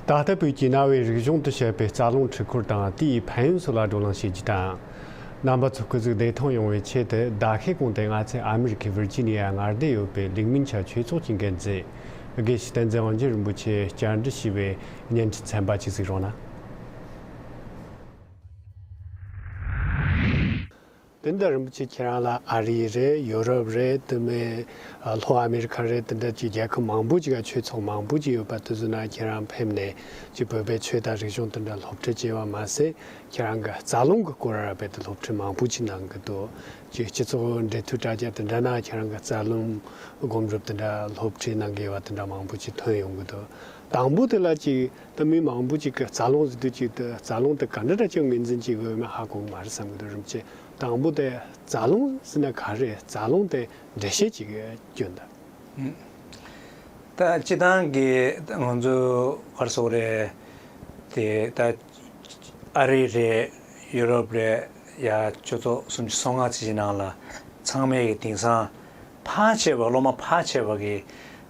ད་ལྟ་བོད་ཀྱི་གནའ་བོའི་རིག་གཞུང་དུ་བཤད་པའི་རྩ་རླུང་འཁྲིག་འཁོར་དང་དེའི་ཕན་ཡོན་སོགས་ལ་བགྲོ་གླེང་བྱེད་རྒྱུ་དང། རྣམ་པ་ཚོ་སྐུ་གཟུགས་བདེ་ཐང་ཡོང་བའི་ཆེད་དུ་ཟླ་ཤས་གོང་སྟེ་ང་ཚོས་ཨ་མི་རི་ཁའི་བིར་ཇི་ནི་ཡར་ངར་བསྡད་ཡོད་པའི་ལིག་མིན་ཆ་ཆོས་ཚོགས་ཀྱི་འགན་འཛིན་དགེ་བཤེས་བསྟན་འཛིན་དབང་ཆེན་རིན་པོ་ཆེས་བསྐྱར་འབྲི་ཞུས་པའི་བརྙན་འཕྲིན་ཚན་པ་གཅིག་གཟིགས་རོགས་གནང། དེ་འདྲ་རིན་པོ་ཆེ་ཁྱེད་རང་ལ་ཨ་རི་རེད་ཡོ་རོབ་རེད་དེ་མིན་ལྷོ་ཨ་མེ་རི་ཁ་རེད་དེ་འདྲ་ཅིག་རྒྱལ་ཁབ་མང་པོ་ཅིག་ག་ཆོས་ཚོགས་མང་པོ་ཅིག་ཡོད་པ་དེ་ཚོ་ནང་ཁྱེད་རང་ཕེབས་ནས་ཅིག་བོད་པའི་ཆོས་དང་རིག་གཞུང་དེ་འདྲ་སློབ་ཁྲིད་བྱེད་པ་མ་ཟད་ཁྱེད་རང་གི་རྩ་རླུང་གི་སྐོར་ར་བས་དེ་སློབ་ཁྲིད་མང་པོ་ཅིག་གནང་གི་འདུག་ཅིག་སྤྱི་ཚོགས་འབྲེལ་མཐུད་དྲ་རྒྱ་དེ་འདྲ་ནང་ཁྱེད་རང་གི་རྩ་རླུང་སྒོམ་སྒྲུབ་དེ་འདྲ་སློབ་ཁྲིད་གནང་གི་ཡོད་པ་དེ་འདྲ་མང་པོ་ཅིག་ཐོན་ཡོང་གི་འདུག་དང་པོ་དེ་ལ་ཅིག། ད་མི་མང་པོ་ཅིག་གི་རྩ་རླུང་ཟིན་དུས་གཅིག་ཏུ་རྩ་རླུང་དེ་ག་འདྲ་འདྲ་ཅིག་ངོས་འཛིན་བྱེད་དགོས་མིན་ཧ་གོ་མ་རེད་བསམ་གྱི་འདུག་རིམ་གྱིས་དང་པོ་དེ་རྩ་རླུང་ཟིན་ན་ག་རེ་རྩ་རླུང་དེ་འགྲེལ་བཤད་བྱེད་དགོས་རྒྱུ་འདུག། ད་སྤྱི་དང་གི་ང་ཚོའི་བར་སོག་རེད་དེ་ད་ཨ་རི་རེད་ཡུ་རོབ་རེད་ཡ་ཁྱོད་ཚོ་སུམ་ཅུ་སོ་ལྔ་ཚིག་གི་ནང་ལ་ཚང་མའི་གི་དིང་སང་ཕ་ཆེ་བ་སློབ་མ་ཕ་ཆེ་བ་གི་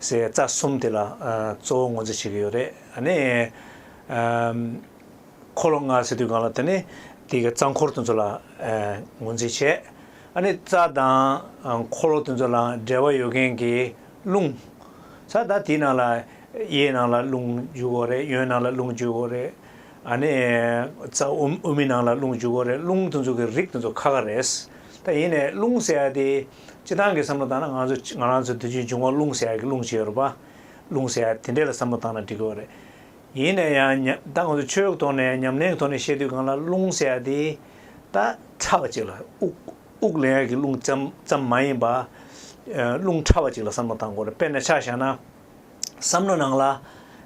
ཟས་རྩ་གསུམ་དེ་ལ་གཙོ་བོ་ངོ་ཚ་བྱེད་ཀྱི་ཡོད་རེད་ནི། འཁོར་ལོ་ལྔ་ཟེར་དུས་གང་ལ་དེ་ནི་དེ་གི་རྩ་འཁོར་དེ་ཚོ་ལ་ངོ་ཚ་བྱེད། ནི་རྩ་དང་འཁོར་ལོ་དེ་ཚོ་ལ་འབྲེལ་བ་ཡོད་མཁན་གྱི་རླུང། ས་དང་དེའི་ནང་ལ་གཡས་ནང་ལ་རླུང་འཇུག་གོ་རེད་གཡོན་ནང་ལ་རླུང་འཇུག་གོ་རེད། ནི་རྩ་དབུ་མའི་ནང་ལ་རླུང་འཇུག་གོ་རེད་རླུང་དེ་ཚོ་གི་རིགས་དེ་ཚོ་ཁ་ཁ་རེད། ད་ཡིན་ནས་རླུང་ཟེར་ཡ་དེ། སྤྱི་བཏང་གི་བསམ་བློ་བཏང་ན་ང་ཚོས་ང་རང་ཚོའི་དུས་ཆེན་འབྱུང་བ་རླུང་ཟད་ཀྱི་རླུང་བྱེད་རོགས་པ། རླུང་ཟད་དེ་འདྲས་ལ་བསམ་བློ་བཏང་ན་འགྲིག་གི་རེད། ཡིན་ནས་ཡང་ཉམས་ད་ང་ཚོས་ཆོས་ཐོག་ནས་ཉམས་ལེན་གྱི་ཐོག་ནས་བཤད་དུས་གང་ལ་རླུང་ཟད་དེ། ད་ཕྲ་བ་ཅིག་ལ་དབུགས་ལེན་ཡག་གི་རླུང་ཙམ་ཙམ་མ་ཡིན་པ། རླུང་ཕྲ་བ་ཅིག་ལ་བསམ་བློ་བཏང་དགོས་རེད་དཔེར་ན་ཆ་བཞག་ན། བསམ་བློ་ནང་ལ་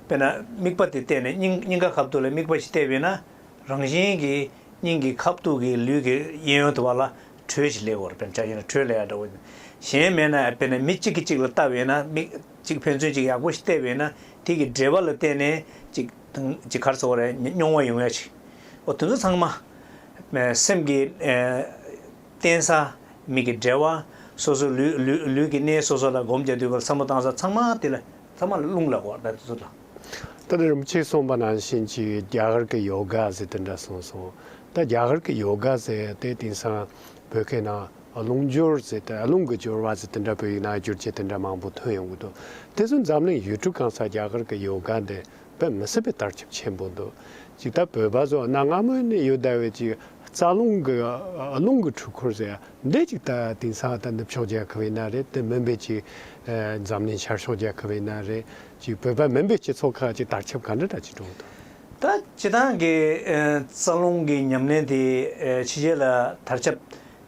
དཔེར་ན་དམིགས་པ་དེ་གཏད་ནས་སྙིང་སྙིང་ག་ཁ་བཏུགས་ལ་དམིགས་པ་ཞིག་གཏད་པས་ན་རང་བཞིན་གྱིས་སྙིང་གི་ཁ་བཏུགས་ཀྱི་ལུས་ཀྱི་གཡས་གཡོན་དུ་བ་ལ་དྲོད་ཀྱི་ལེའུར་བེམ་ཆགས་ཡིན་ན་དྲོད་ལེའུ་འདྲ་བོ། གཞན་མེད་ན་དཔེར་ན་མི་གཅིག་གིས་གཅིག་ལ་ལྟ་བས་ན་མི་གཅིག་ཕན་ཚུན་གཅིག་ཡག་པོ་ཞིག་བལྟས་པས་ན་དེ་གི་འབྲེལ་བ་ལ་བརྟེན་ནས་གཅིག་དང་གཅིག་གར་ཚོར་བ་རེད་མྱོང་བ་ཡོང་ཡ་ཞིག་འོ་དེ་ཚོ་ཚང་མ། སེམས་ཀྱི་རྟེན་ས་མིག་གི་འབྲེལ་བ་སོ་སོ་ལུས་ཀྱི་གནས་སོ་སོ་ལ་སྒོམ་བྱ་དུས་བར་མཚམས་མོ་བཏང་ས་ཚང་མ་དེ་ལ་ཚང་མ་ལ་རླུང་ལ་གོ་དེ་ཚོ་ལ། ད་ནི་རིན་པོ་ཆེས་གསུངས་པ་ནང་བཞིན་གྱི་རྒྱ་གར་གྱི་ཡོ་ག་ཟེར་དེ་འདྲ་གསུངས་སོང་ད་རྒྱ་གར་གྱི་ཡོ་ག་ཟེར་ཡ་དེ་དེང་སང་བོད་སྐད་ནང་རླུང་སྦྱོར་ཟེར་ཏེ་རླུང་གི་སྦྱོར་བ་ཟེར་དེ་འདྲ་བོད་ཡིག་ནང་སྒྱུར་བྱེད་དེ་འདྲ་མང་པོ་ཐོན་ཡོང་གི་འདུག་དེ་ཚོ་འཛམ་གླིང་ཡུལ་གྲུ་གང་སར་རྒྱ་གར་གྱི་ཡོ་ག་འདི་བོད་མི་སྲིད་པའི་བརྟག་ཁྱབ་ཆེན་པོ་འདུག་ཅིག་ད་བོད་པ་ཚོ་གནའ་སྔ་མོ་ནས་ཡོད་ད་བའི་ཅིག་རྩ་རླུང་གི་རླུང་གི་འཁྲུལ་འཁོར་ཟེར་ཡ་འདི་ཅིག་ད་དེང་སང་ད་ནུབ་ཕྱོགས་རྒྱལ་ཁབ་ཡིན་ན་རེད་དེ་མིན་པའི་ཅིག་འཛམ་གླིང་ཤར་ཕྱོགས་རྒྱལ་ཁབ་ཡིན་ན་རེད་ཅིག་བོད་པ་མིན་པའི་སྤྱི་ཚོགས་ཁག་ཅིག་བརྟག་ཁྱབ་ག་འདྲ་འདྲ་ཅིག་འགྲོ་གི་འདུག། ད་ཅི་ཐང་གི་རྩ་རླུང་གི་ཉམས་ལེན་དེ་ཕྱི་རྒྱལ་ལ་དར་ཁྱབ།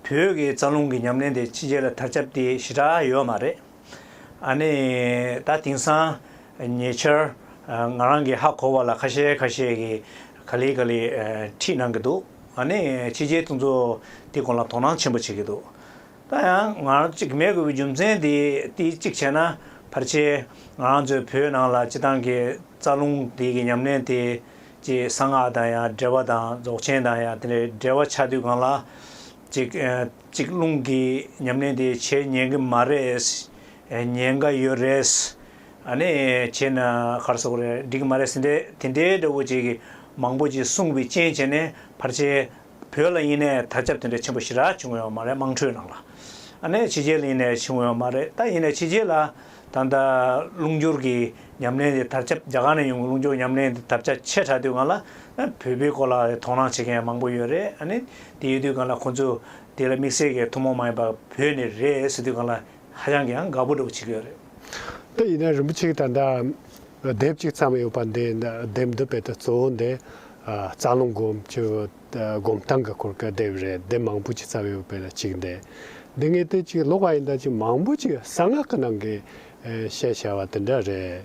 བོད་ཀྱི་རྩ་རླུང་གི་ཉམས་ལེན་དེ་ཕྱི་རྒྱལ་ལ་དར་ཁྱབ་དེ་ཞི་དྲག་ཡོད་མ་རེད། ཨ་ནི་ད་དེང་སང་ཉེ་ཆར་ང་རང་གི་ཧ་གོ་བ་ལ་ཁ་ཤས་ཁ་ཤས་ཀྱིས་ག་ལེ་ག་ལེ་ཁྲིད་གནང་གི་འདུག་ཨ་ནི་ཕྱི་རྒྱལ་དེ་ཚོ་དེ་སྐོར་ལ་དོ་སྣང་ཆེན་པོ་བྱེད་ཀྱི་འདུག་ད་ཡང་ང་རང་གཅིག་མེད་དགོས་པའི་རྒྱུ་མཚན་དེ་དེ་གཅིག་བྱས་ན་ཕར་ཆེར་ང་རང་ཚོའི་བོད་ནང་ལ་སྤྱི་བཏང་གི་རྩ་རླུང་དེ་གི་ཉམས་ལེན་དེ་ཀྱི་གསང་སྔགས་དང་ཡང་འབྲེལ་བ་དང་རྫོགས་ཆེན་དང་ཡང་དེ་འདྲའི་འབྲེལ་བ་ཆགས་དུས་གང་ལ་གཅིག་གཅིག་རླུང་གི་ཉམས་ལེན་དེ་བྱེད་ཉན་གི་མ་རེད། ཉན་ག་ཡོད་རེད། ཨ་ནི་བྱས་ན་གར་སོགས་རེད་འགྲིག་གི་མ་རེད་ཟེ་འདྲའི་དེ་འདྲའི་འདྲ་བོ་ཅིག་གི་མང་པོ་ཅིག་གསུངས་པའི་རྐྱེན་བྱས་ནས་ཕར་ཆེར་བོད་ལ་ཡིན་ནས་དར་ཁྱབ་དེ་འདྲའི་ཆེན་པོ་ཞིག་རག་བྱུང་ཡོད་མ་རེད་དམངས་ཁྲོད་ནང་ལ་ཨ་ནེ་ཕྱི་རྒྱལ་ལ་ཡིན་ནས་བྱུང་ཡོད་མ་རེད་ད་ཡིན་ནས་ཕྱི་རྒྱལ་ལ་ད་ལྟ་རླུང་སྦྱོར་གྱི་ཉམས་ལེན་དེ་དར་ཁྱབ་རྒྱ་གར་ནས་ཡོང་གི་རླུང་སྦྱོར་ཉམས་ལེན་དེ་དར་ཁྱབ་ཆེ་དྲགས་དུས་གང་ལ་བོད་པའི་སྐོར་ལ་དོ་སྣང་བྱེད་མཁན་མང་པོ་ཡོད་རེད་ཨ་ནེ་དེ་ཡོད་དུས་གང་ལ་ཁོང་ཚོས་དེ་ལ་དམིགས་བསལ་གྱི་ཐུན་མོང་མ་ཡིན་པ་བོད་ནས་རེད་ཟེར་དུས་གང་ལ་ཧ་ཅང་གི་ཡང་དགའ་པོ་འདྲ་བོ་བྱེད་ཀྱི་ཡོད་རེད། དེ་ཡིན་ན་རིན་པོ་ཆེ་གིས་ད་ལྟ་དེབ་གཅིག་བརྩམས་ཡོད་པ་འདི་དེབ་འདི་རྦད་དེ་གཙོ་བོ་འདི་རྩ་རླུང་སྒོམ་གྱི་སྒོམ་སྟངས་ཀྱི་སྐོར་གྱི་དེབ་རེད་དེབ་མང་པོ་ཅིག་བརྩམས་ཡོད་པའི་ལ་གཅིག་འདི། འདི་ངས་དེ་གཅིག་ཀློག་པ་ཡིན་ད་ཅིག་མང་པོ་ཅིག་གསང་སྔགས་ཀྱི་ནང་གི་བཤད་བྱ་བ་དེ་འདྲ་རེད་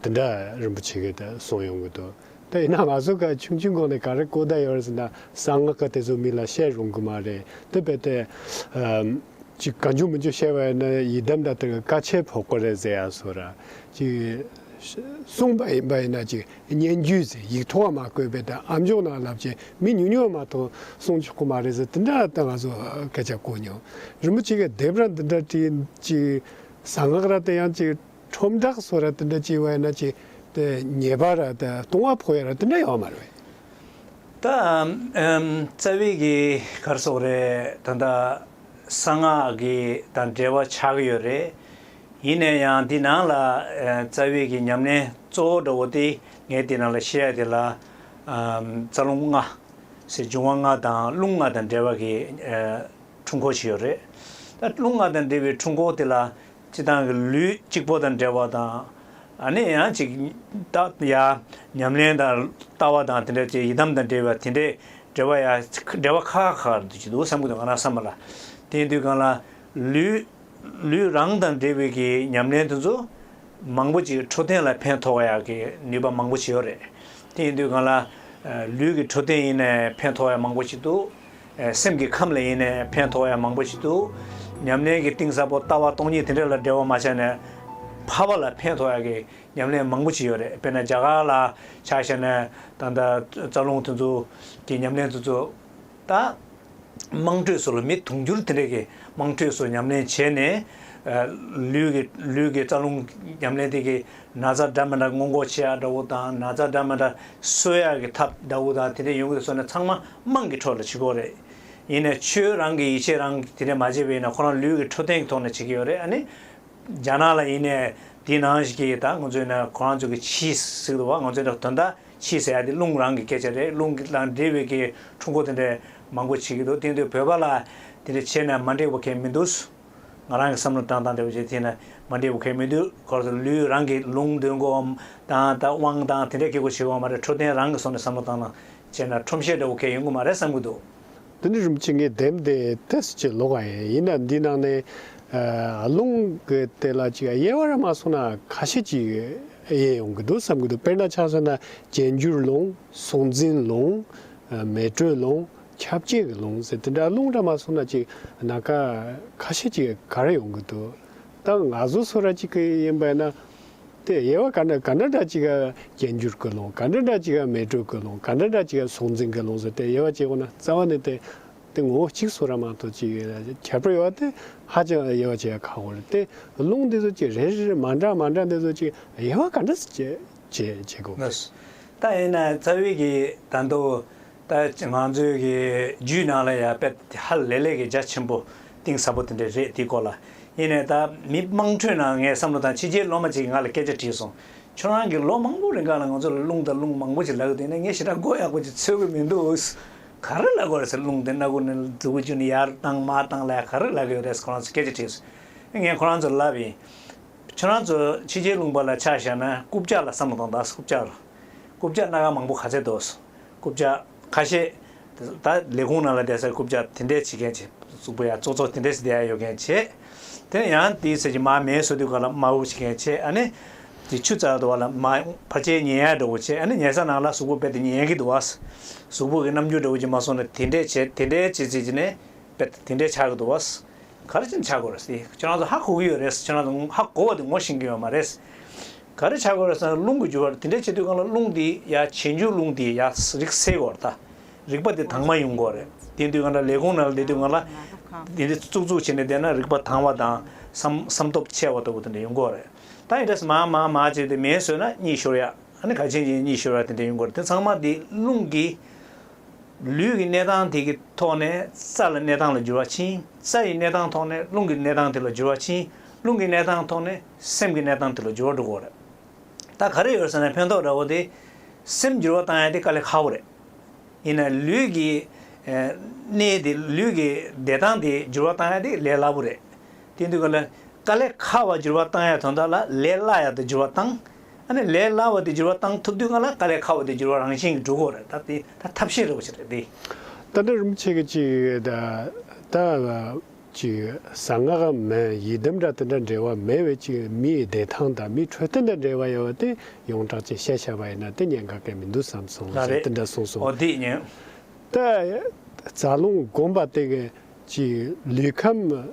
དེ་འདྲ་རིན་པོ་ཆེ་གིས་གསུངས་ཡོང་གི་འདུག་དེ་ཡིན་ན་ང་ཚོ་ག་ཆུང་ཆུང་གོང་ནས་ག་རེ་གོ་བསྡད་ཡོད་རེད་ཟེར་ན་གསང་སྔགས་ཀྱི་དེ་ཚོ་མི་ལ་བཤད་རུང་གི་མ་རེད་དེ་རྦད་དེ། ཅིག་གང་བྱུང་མི་འགྱུར་ཤེས་པ་ཡིན་ན་ཡི་དམ་དང་དེ་བཀའ་ཆད་ཕོག་གོ་རེ་ཟེར་ཡང་སོ་ར། ཅིག། གསུངས་པ་ཡིན་པ་ཡིན་ན་ཅིག་སྙན་བརྒྱུད་ཟེར་ཡིག་ཐོག་མ་བཀོད་པའི་དང་ཨ་མཆོག་ནང་ལབ་ཅིག་མི་ཉུང་ཉུང་མ་མཐོང་གསུངས་ཆོག་གོ་མ་རེ་ཟེར་དེ་འདྲ་ད་ང་ཚོ་སྐད་ཆ་གོ་མྱོང། རིན་པོ་ཆེ་གི་དེབ་ར་འདི་འདྲ་བྲིས་ཅིག། གསང་སྔགས་ར་དེ་ཡང་ཅིག། ཁྲོམ་བསྒྲགས་སོགས་ར་ཏི་འདྲ་བྱས་བས་ན་ཅི་དེ་ཉེས་པ་ར་ཏི་གཏོང་བ་ཕོ་ཡ་ར་ཏི་འདྲ་ཡོང་བ་མ་རེད། ད་རྩ་བའི་གི་གར་སོགས་རེད་ད་ལྟ་གསང་སྔགས་གི་དང་འབྲེལ་བ་ཆགས་གི་ཡོད་རེད། ཡིན་ནས་ཡང་དེ་ནང་ལ་རྩ་བའི་གི་ཉམས་ལེན་གཙོ་བོ་འདྲ་བོ་དེ་ངས་དེ་ནང་ལ་བཤད་ཡ་དེ་ལ་རྩ་རླུང་ལྔ། ཟེར་འབྱུང་བ་ལྔ་དང་རླུང་ལྔ་དང་འབྲེལ་བ་གི་འཁྲུལ་འཁོར་ཞིག་ཡོད་རེད། ད་རླུང་ལྔ་དང་འབྲེལ་བའི་འཁྲུལ་འཁོར་དེ་ལ་ཅི་དང་གི་ལུས་གཅིག་པོ་དང་འབྲེལ་བ་དང། ནི་ཡང་ཅིག། རྟགས་ཡ། ཉམས་ལེན་དང། ལྟ་བ་དང་དེ་འདྲ་བཅས་ཡི་དམ་དང་འབྲེལ་བའི་དེ་འདྲའི་འབྲེལ་བ་ཡ། འབྲེལ་བ་ཁ་ཁ་འདུ་བྱེད་དུ་བསམ་གྱི་འདུག་གང་ལ་བསམ་པ་ལ། དེའི་དུས་གང་ལ། ལུས། ལུས་རང་དང་འབྲེལ་བའི་གི་ཉམས་ལེན་དེ་ཚོ། མང་པོ་ཅིག་འཕྲོ་བསྟེན་ལ་ཕན་ཐོགས་ཡ་གི་ནུས་པ་མང་པོ་ཅིག་ཡོད་རེད། དེའི་དུས་གང་ལ། ལུས་ཀྱི་འཕྲོ་བསྟེན་ཡིན་ནའི་ཕན་ཐོགས་ཡ་མང་པོ་ཅིག་འདུག། སེམས་ཀྱི་ཁམས་ལ་ཡེ་ནས་ཕན་ཐོགས་ཡ་མང་པོ་ཞིག་འདུག་ཉམས་ལེན་གྱི་གཏིང་ཟབ་པོ་ལྟ་བ་སྟོང་ཉིད་དེ་འདྲ་ལ་འབྲེལ་བ་མ་བྱས་ནས། ཕ་བ་ལ་ཕན་ཐོགས་ཡ་གི་ཉམས་ལེན་མང་པོ་ཅིག་ཡོད་རེད་དཔེར་ན་རྒྱ་གར་ལ་ཆ་བཞག་ནས་ད་ལྟ་རྩ་རླུང་དེ་ཚོ་གི་ཉམས་ལེན་དེ་ཚོ་ད། དམངས་ཁྲོད་སུ་ལ་མི་དུང་འགྱུར་དེ་འདྲ་གི་དམངས་ཁྲོད་སུ་ཉམས་ལེན་བྱས་ནས། ལུས་ཀྱི་རྩ་རླུང་ཉམས་ལེན་དེ་གི་ན་བཟའ་སྦྲ་མི་འདྲ་སྔོན་འགོག་བྱེད་ཡག་འདྲ་བོ་དང་ན་བཟའ་སྦྲ་མི་འདྲ་གསོད་ཡག་གི་ཐབས་འདྲ་བོ་དང་དེ་འདྲ་ཡོང་གི་སོགས་ནས་ཚང་མ་དམངས་ཀྱི་འཕྲོ་ལ་བྱེད་དགོས་རེད། ཡིན་ནས་ཁྱོད་རང་གི་ཡིད་ཆེས་རང་གིས་དེ་འདྲ་མ་བྱེད་པའི་ཡིན་ན་ཁོ་རང་ལུས་ཀྱི་འཕྲོ་བསྟེན་གྱི་ཐོག་ནས་བྱེད་ཀྱི་ཡོད་རེད་ཨ་ནི། རྒྱ་ནག་ལ་ཡིན་ནས་དེ་ནང་བཞིན་གྱི་ད་ང་ཚོས་ན་ཁོ་རང་ཚོ་གི་ཕྱིས་ཟིག་ཏུ་བ་ང་ཚོས་དོན་དག་ཕྱིས་ཟེར་ཡག་དེ་རླུང་རང་གི་སྐད་ཆ་རེད་རླུང་གི་དང་འབྲེལ་བའི་གི་འཕྲུལ་འཁོར་དེ་འདྲ་མང་པོ་བྱེད་ཀྱི་འདུག་དེང་དུས་བོད་པ་ལ་དེ་འདྲ་བྱས་ན་མ་འགྲིག་པ་ཁས་མི་འདུག། ང་རང་གི་བསམ་བློ་དྲང་དང་བདེ་བོ་བྱེད་ཐེངས་ན་མ་འབྲས་བུ་ཁེགས་མི་དུས་གོར་དུ་ལུས་རང་གིས་ལུང་འདོན་གོ་འམ་དང་ད་དབང་དང་དེ་འདྲས་ཁེགས་གོ་བྱེད་དགོས་ང་མ་རེད་འཕྲོ་བསྟེན་རང་གི་སོ་ནས་བསམ་བློ་བཏང་ན་བྱས་ན་ཁྲོམ་བཤད་འདྲ་བོ་ཁེགས་ཡོང་གི་མ་རེད་བསམ་གི་འདུག། དེ་འདྲ་རུམ་ཅིག་ངས་འདེམས་ཏེ་ཐེས་ཅིག་ལོག་ག་ཡིན་ཡིན་ན་འདི་ནང་ནས་ལུང་གི་དེ་ལ་ཅིག་དབྱེ་བ་ར་མ་སོང་ན་ཁ་ཤས་ཅིག་དབྱེ་ཡོང་གི་འདུག་བསམ་གི་འདུག་དཔེར་ན་ཆ་མཚོན་ན་རྒྱན་འགྱུར་ལུང་གཟུང་འཛིན་ལུང་མེ་དྲོད་ལུང་ཁྱབ་བྱེད་ཀྱི་ལུང་ཟེར་དེ་འདྲ་ལུང་འདྲ་མ་གསུངས་ན་ཅིག་ན་ཁ་ཁ་ཤས་ཅིག་ག་རེ་ཡོང་གི་འདུག་ད་ང་ཚོ་ཚོ་ར་ཅིག་གི་ཡིན་པས་ན། དེ་དབྱེ་བ་ག་འདྲ་ག་འདྲ་འདྲ་ཅིག་ག་སྐྱེ་འགྱུར་གྱི་ལུང་ག་འདྲ་འདྲ་ཅིག་ག་མེ་དྲོད་ཀྱི་ལུང་ག་འདྲ་འདྲ་ཅིག་ག་གཟུང་འཛིན་གྱི་ལུང་ཟེར་དེ་དབྱེ་བ་ཅིག་ཡོང་ན་རྩ་བ་ནས་དེ་དེ་ངོ་བོ་གཅིག་ཚོ་ར་མ་གཏོགས་ཅིག་ཁྱད་པར་ཡོད་པ་དེ་ཧ་ཅང་དབྱེ་བ་ཅིག་ཁག་པོ་རེད་དེ་ལུང་འདི་ཚོ་ཅིག་རེ་རེ་རེ་མ་འདྲ་མ་འདྲ་འདི་ཚོ་ཅིག་དབྱེ་བ་ག་འདྲ་བྱེད་དབྱེ་བྱེད་དགོས་པ་རེད། ད་དབྱེ་ན་རྩ་བའི་གི་ད་མདོ་ད་ང་ཚོའི་གི་རྒྱུད་ནང་ལ་ཡང་དཔེ་དེ་ཧ་ལས་ལས་ཀྱི་རྒྱ་ཆེན་པོ་གཏིང་ཟབ་པོ་དེ་འདྲ་རེད་དེའི་སྐོར་ལ་ཡིན་ནས་ད་མི་དམངས་ཁྲོད་ནང་ངས་བསམ་བློ་དང་ཕྱི་རྒྱལ་སློབ་མ་གཅིག་གིས་ང་ལ་སྐད་ཆ་དྲིས་སོང། ཁྱོད་རང་གིས་ལོ་མང་པོ་རིང་ཁ་ལ་ང་ཚོ་ལ་རླུང་དང་རླུང་མང་པོ་ཅིག་ལག་བསྟན་ནས་ངས་ཞེ་དྲག་མགོ་ཡག་པོ་ཅིག་འཚོས་གི་མི་འདུག་ག་རེ་ལག་གི་རེད་ཟེར་རླུང་དེ་སྣ་དགུ་ནས་དགུ་བཅུ་ནས་ཡར་བཏང་མར་བཏང་ལ་ག་རེ་ལག་གི་ཡོད་རེད་ཟེར་ཁོ་རང་ཚོས་སྐད་ཆ་དྲིས་སོང། ངས་ཁོ་རང་ཚོར་ལབ་ཡིན། ཁྱོད་རང་ཚོ་ཕྱི་རྒྱལ་ལུང་པ་ལ་ཆ་བཞག་ན་རྐུབ་བཀྱག་ལ་བསམ་བློ་གཏོང་དང་རྐུབ་བཀྱག་རུ། རྐུབ་བཀྱག་སྣ་ག་མང་པོ་ག་ཚད་འདུག་ཟེར། རྐུབ་བཀྱག། ཁ་ཤས། ད་ལས་ཁུངས་ནང་ལ་བསྡད་ས་རྐུབ་བཀྱག་དེ་འདྲས་བྱེད་མཁན་བྱེད། གཟུགས་པོ་ཡ་ཙོག་ཙོག་དེ་འདྲས་སུ་བསྡད་ཡ་ཡོད་མཁན་བྱེད། དེ་ནས་ཡང་དེའི་ཟེར་གྱི་མ་མེའི་སོ་དུས་སྐོར་ལ་མ་འུབ་བྱེད་མཁན་བྱེད་ཨ་ནི། དེ་ཆུ་རྩ་དོར་བ་ལ་མ་ཕར་ཆེའི་ཉེ་ཡར་འགྲོ་དགོས་བྱེད་ཨ་ནི་ཉལ་ས་ནང་ལ་གཟུགས་པོ་རྦད་དེ་ཉལ་གི་འདུག་བ། གཟུགས་པོ་གི་རྣམ་འགྱུར་འདྲ་བོ་ཅིག་མ་སོང་ན་དེ་འདྲས་བྱེད་དེ་འདྲས་བྱེད་ཟེར་གྱི་ནས་དཔེར་ན་དེ་འདྲའི་ཆགས་ཀྱི་འདུག་བ། ག་རེ་བྱེད་ན་ཆགས་དགོས་རེད་ཟེར་ཁྱེད་རང་ཚོ་ཧ་གོ་གི་ཡོད་རེད་ཟེར་ཁྱེད་རང་ཚོ་ཧ་གོ་བ་དེ་ངོ་ཤེས་ཀྱི་ཡོད་མ་རེད། ག་རེ་བྱ་དགོས་རེད་ཟེར་ན་རླུང་གི་རྒྱུ་བ་དེ་འདྲས་བྱེད་དུས་གང་ལ་རླུང་དེ་ཡ་བྱེད་འཇུག་རླུང་དེ་ཡ་རིག་སེལ་དགོས་རེད་ད། རིག་པ་དེ་དྭངས་མ་ཡོང་དགོས་རེད། དེ་དུས་གང་འདྲ་ལས་ཁུངས་ནང་བསྡད་དུས་གང་ལ། དེ་འདྲས་ཙུག་ཙུག་བྱས་ནས་བསྡད་ན་རིག་པ་དྭངས་བ་དང་བསམ་སྟོབས་ཆེ་བ་ལྟ་བུ་དེ་འདྲས་ཡོང་དགོས་རེད། ད་འདྲས་སུ་མ་མ་མ་བྱས་ཏེ་མེད་ཟོས་ན་གཉིད་ཤོར་ཡ། ཨ་ནི་ག་བྱེད་ཅིང་གཉིད་ཤོར་ཡ་དེ་འདྲས་ཡོང་དགོས་རེད་དེ་ཚང་མ་དེ་རླུང་གི། ལུས་ཀྱི་གནས་དང་དེ་ཀྱི་ཐོག་ནས་རྩ་ལ་གནས་དང་ལ་འགྱུར་བ་ཕྱིན་རྩ་ཡི་གནས་དང་ཐོག་ནས་རླུང་གི་གནས་དང་དེ་ལ་འགྱུར་བ་ཕྱིན་རླུང་གི་གནས་དང་ཐོག་ནས་སེམས་ཀྱི་གནས་དང་དེ་ལ་འགྱུར་བ་འགྲོ་གོ་རེད། ད་ག་རེ་ཡོད་ཟེར་ན་ཕན་ཐོག་འདྲ་བོ་དེ། སེམས་འགྱུར་བ་བཏང་ཡ་དེ་དཀའ་ལས་ཁག་པོ་རེད། ཡིན་ན་ལུས་ཀྱི་གནས་དེ་ལུས་ཀྱི་བདེ་ཐང་དེ་འགྱུར་བ་བཏང་ཡ་དེ་ལས་སླ་པོ་རེད། དེ་འདུག་ག་ལ་དཀའ་ལས་ཁག་པ་འགྱུར་བ་བཏང་ཡ་དོན་དག་ལ་ལས་སླ་ཡ་དང་འགྱུར་བ་བཏང་ཨ་ནི་ལས་སླ་བ་དེ་སྒྱུར་བ་བཏང་ཐུབ་དུས་ང་ལ་དཀའ་ལས་ཁག་བ་དེ་སྒྱུར་བ་རང་བཞིན་གྱིས་འགྲུབ་གོ་རེད་ད་དེ་ད་ཐབས་ཤེས་རེད་བོ་ཆེ་རེད་དེ། ད་འདྲ་རིན་པོ་ཆེ་གི་ཅིག་ད་ད་ལ་ཅིག་གསང་སྔགས་ཨ་མ་ཡི་དམ་འདྲ་དེ་འདྲ་འབྲེལ་བ་མེད་བས་ཅིག་མི་ཡི་བདེ་ཐང་དང་མི་འཕྲོད་དེ་འདྲ་འབྲེལ་བ་ཡོད་བ་དེ་ཡོངས་གྲགས་ཅིག་བཤད་ཤ་བ་ཡིན་ན་དེ་ཉན་ག་གལ་མི་འདུག་བསམ་སོང་ཞེས་དེ་འདྲ་གསུངས་སོང། ད་རྩ་རླུང་བསྒོམ་པ་དེ་ག་ཅིག་ལུས་ཁམས།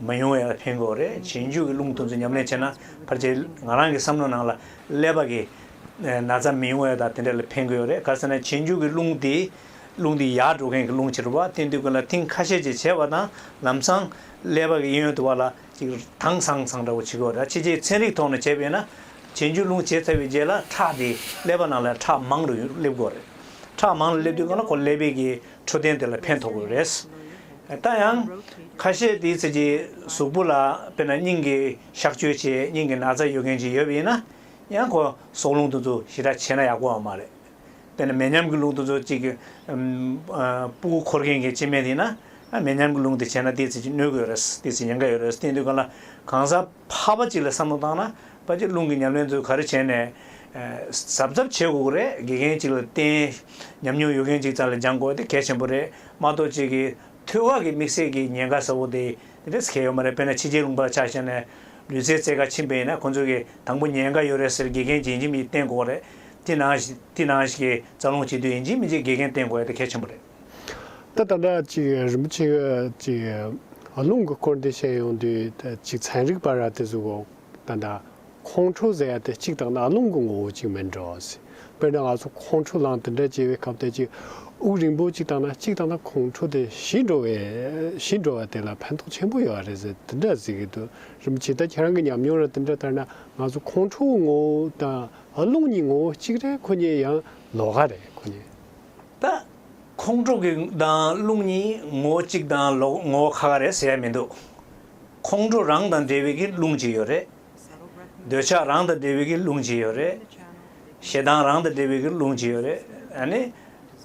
མི་ཡོང་བའི་ཕན་གོ་རེད་བྱེད་མཇུག་གི་རླུང་འཐུང་ཚུལ་ཉམས་ལེན་བྱས་ན་ཕར་ཆེར་ང་རང་གི་བསམ་བློ་ནང་ལ་ཀླད་པ་གི་ན་ཚ་མི་ཡོང་བའི་དང་དེ་འདྲ་ལ་ཕན་གི་ཡོད་རེད་ག་ཟེར་ན་བྱེད་མཇུག་གི་རླུང་དེ་རླུང་དེ་ཡར་འགྲོ་མཁན་གི་རླུང་ཕྱིར་བ་སྟེ་འདུག་གི་ལ་ཐིང་ཁ་ཤས་ཅིག་བྱས་བ་དང་ལམ་སང་ཀླད་པ་གི་གཡས་གཡོན་དུ་བ་ལ་ཅིག་དྭངས་སང་སང་འདྲ་བོ་བྱེད་གི་རེད་ཕྱི་རྗེས་ཚན་རིག་ཐོག་ནས་བྱས་པ་ཡིན་ན་བྱེད་མཇུག་རླུང་བྱས་ཚར་བའི་རྗེས་ལ་ཁྲག་དེ་ཀླད་པ་ནང་ལ་ཁྲག་མང་རུ་སླེབས་གོ་རེད་ཁྲག་མང་རུ་སླེབས་དུས་གང་ལ་ཁོ་ཀླད་པའི་གི་འཕྲོད་བསྟེན་དེ་ལ་ཕན་ཐོགས་དགོས་རེད། ད་ཡང། ཁ་ཤས་དེའི་ཚིག་གི་གཟུགས་པོ་ལ་དཔེར་ན་སྙིང་གི་གཤག་བཅོས་བྱས་སྙིང་གི་ན་ཚ་ཡོད་མཁན་ཅིག་ཡོད་པ་ཡིན་ན། ཡང་ཁོ་ཟོག་རླུང་འཐུང་ཚུལ་ཞེ་དྲག་བྱས་ན་ཡག་པོ་བ་མ་རེད། དཔེར་ན་མེ་མཉམ་གྱི་རླུང་འཐུང་ཚུལ་གཅིག་གི། སྤུ་འཁོར་མཁན་གྱི་སྤྱི་སྨན་དེ་ཡིན་ན། མེ་མཉམ་གྱི་རླུང་དེ་བྱས་ན་དེའི་ཚིག་གི་གནོད་དགོས་རེད། དེའི་ཚིག་ཉེན་ཁ་ཡོད་རེད། བསྟེན་དུས་གང་ལ་གང་ཟབ། འཕགས་པ་གཅིག་ལ་བསམ་བློ་བཏང་ན་དཔའ་སྤྱི་རླུང་གི་ཉམས་ལེན་ཚུལ་ག་རེ་བྱས་ནས་གཟབ་གཟབ་བྱེད་དགོས་ཀྱི་རེད་དགེ་རྒན་གཅིག་ལ་བརྟེན་ཉམས་མྱོང་ཡོད་མཁན་གཅིག་ཙམ་ལ་སྦྱང་དགོས་དེ་གལ་ཆེན་པོ་རེད་མ་གཏོགས་གཅིག་གིས་ཐུལ་བ་གི་དམིགས་བསལ་གྱི་ཉེན་ཁ་ཟ་བོ་དེ་དེ་འདྲས་གལ་ཡོད་མ་རེད་དཔེར་ན་ཕྱི་རྒྱལ་ལུང་པར་ཆ་བཞག་ནས་ལུས་རྩལ་རྩེ་དགའ་ཕྱིན་པ་ཡིན་ན་ཁོང་ཚོས་གི་དང་པོ་ཉེན་ཁ་ཡོད་རེད་ཟེར་དགེ་རྒན་གྱིས་ཨིན་ཇི་མི་ཇི་བསྟེན་དགོས་ཀྱི་རེད་དེ་ནང་དེ་ནང་ཞིག་གི་རྩ་རླུང་བྱེད་དུས་ཨིན་ཇི་མི་ཇི་དགེ་རྒན་བསྟེན་དགོས་ཡ་དེ་གལ་ཆེན་པོ་རེད། ད་ལྟ་འདྲ་ཅིག་རིན་པོ་ཆེ་ཅིག་རླུང་གི་འཁོར་འདས་ཤེས་ཡོང་དུས་ཅིག་ཚན་རིག་པ་ར་དེ་ཚོ་གོ། ད་ལྟ་ཁོང་ཁྲོ་ཟེར་ཡ་དེ་གཅིག་དང་ན་རླུང་གི་ངོ་བོ་ཅིག་མིན་འགྲོ། དཔེར་ན་ང་ཚོ་ཁོང་ཁྲོ་ལངས་དེ་འདྲ་སྐྱེ་བའི་སྐབས་དེ་ཅིག་དབུགས་རིང་པོ་ཅིག་དང་ན་གཅིག་དང་ན་ཁོང་ཁྲོ་དེ་ཞི་འགྲོ་བས་ཞི་འགྲོ་བ་དེ་ལ་ཕན་ཐོགས་ཆེན་པོ་ཡོད་རེད་ཟེར་དེ་འདྲ་ཟེར་གི་འདུག་རིན་པོ་ཆེ་ད་ཁྱེད་རང་གི་ཉམས་མྱོང་ར་དེ་འདྲ་ལྟར་ན་ང་ཚོ་ཁོང་ཁྲོའི་ངོ་བོ་དང་རླུང་གཉིས་ངོ་བོ་གཅིག་རེད་ཁོ་གཉིས་ཡང་ལོག་ག་རེད་ཁོ་གཉིས། ད། ཁོང་ཁྲོ་གི་དང་རླུང་གཉིས་ངོ་བོ་གཅིག་དང་ལོག་ངོ་བོ་ཁ་ཁ་རེད་ཟེར་ཡ་མི་འདུག་ཁོང་ཁྲོ་རང་དང་འབྲེལ་བའི་གི་རླུང་གཅིག་ཡོད་རེད། འདོད་ཆགས་རང་དང་འབྲེལ་བའི་གི་རླུང་གཅིག་ཡོད་རེད། ཞེ་སྡང་རང་དང་འབྲེལ་བའི་གི་རླུང་གཅིག་ཡོད་རེད། ཨ་ནི།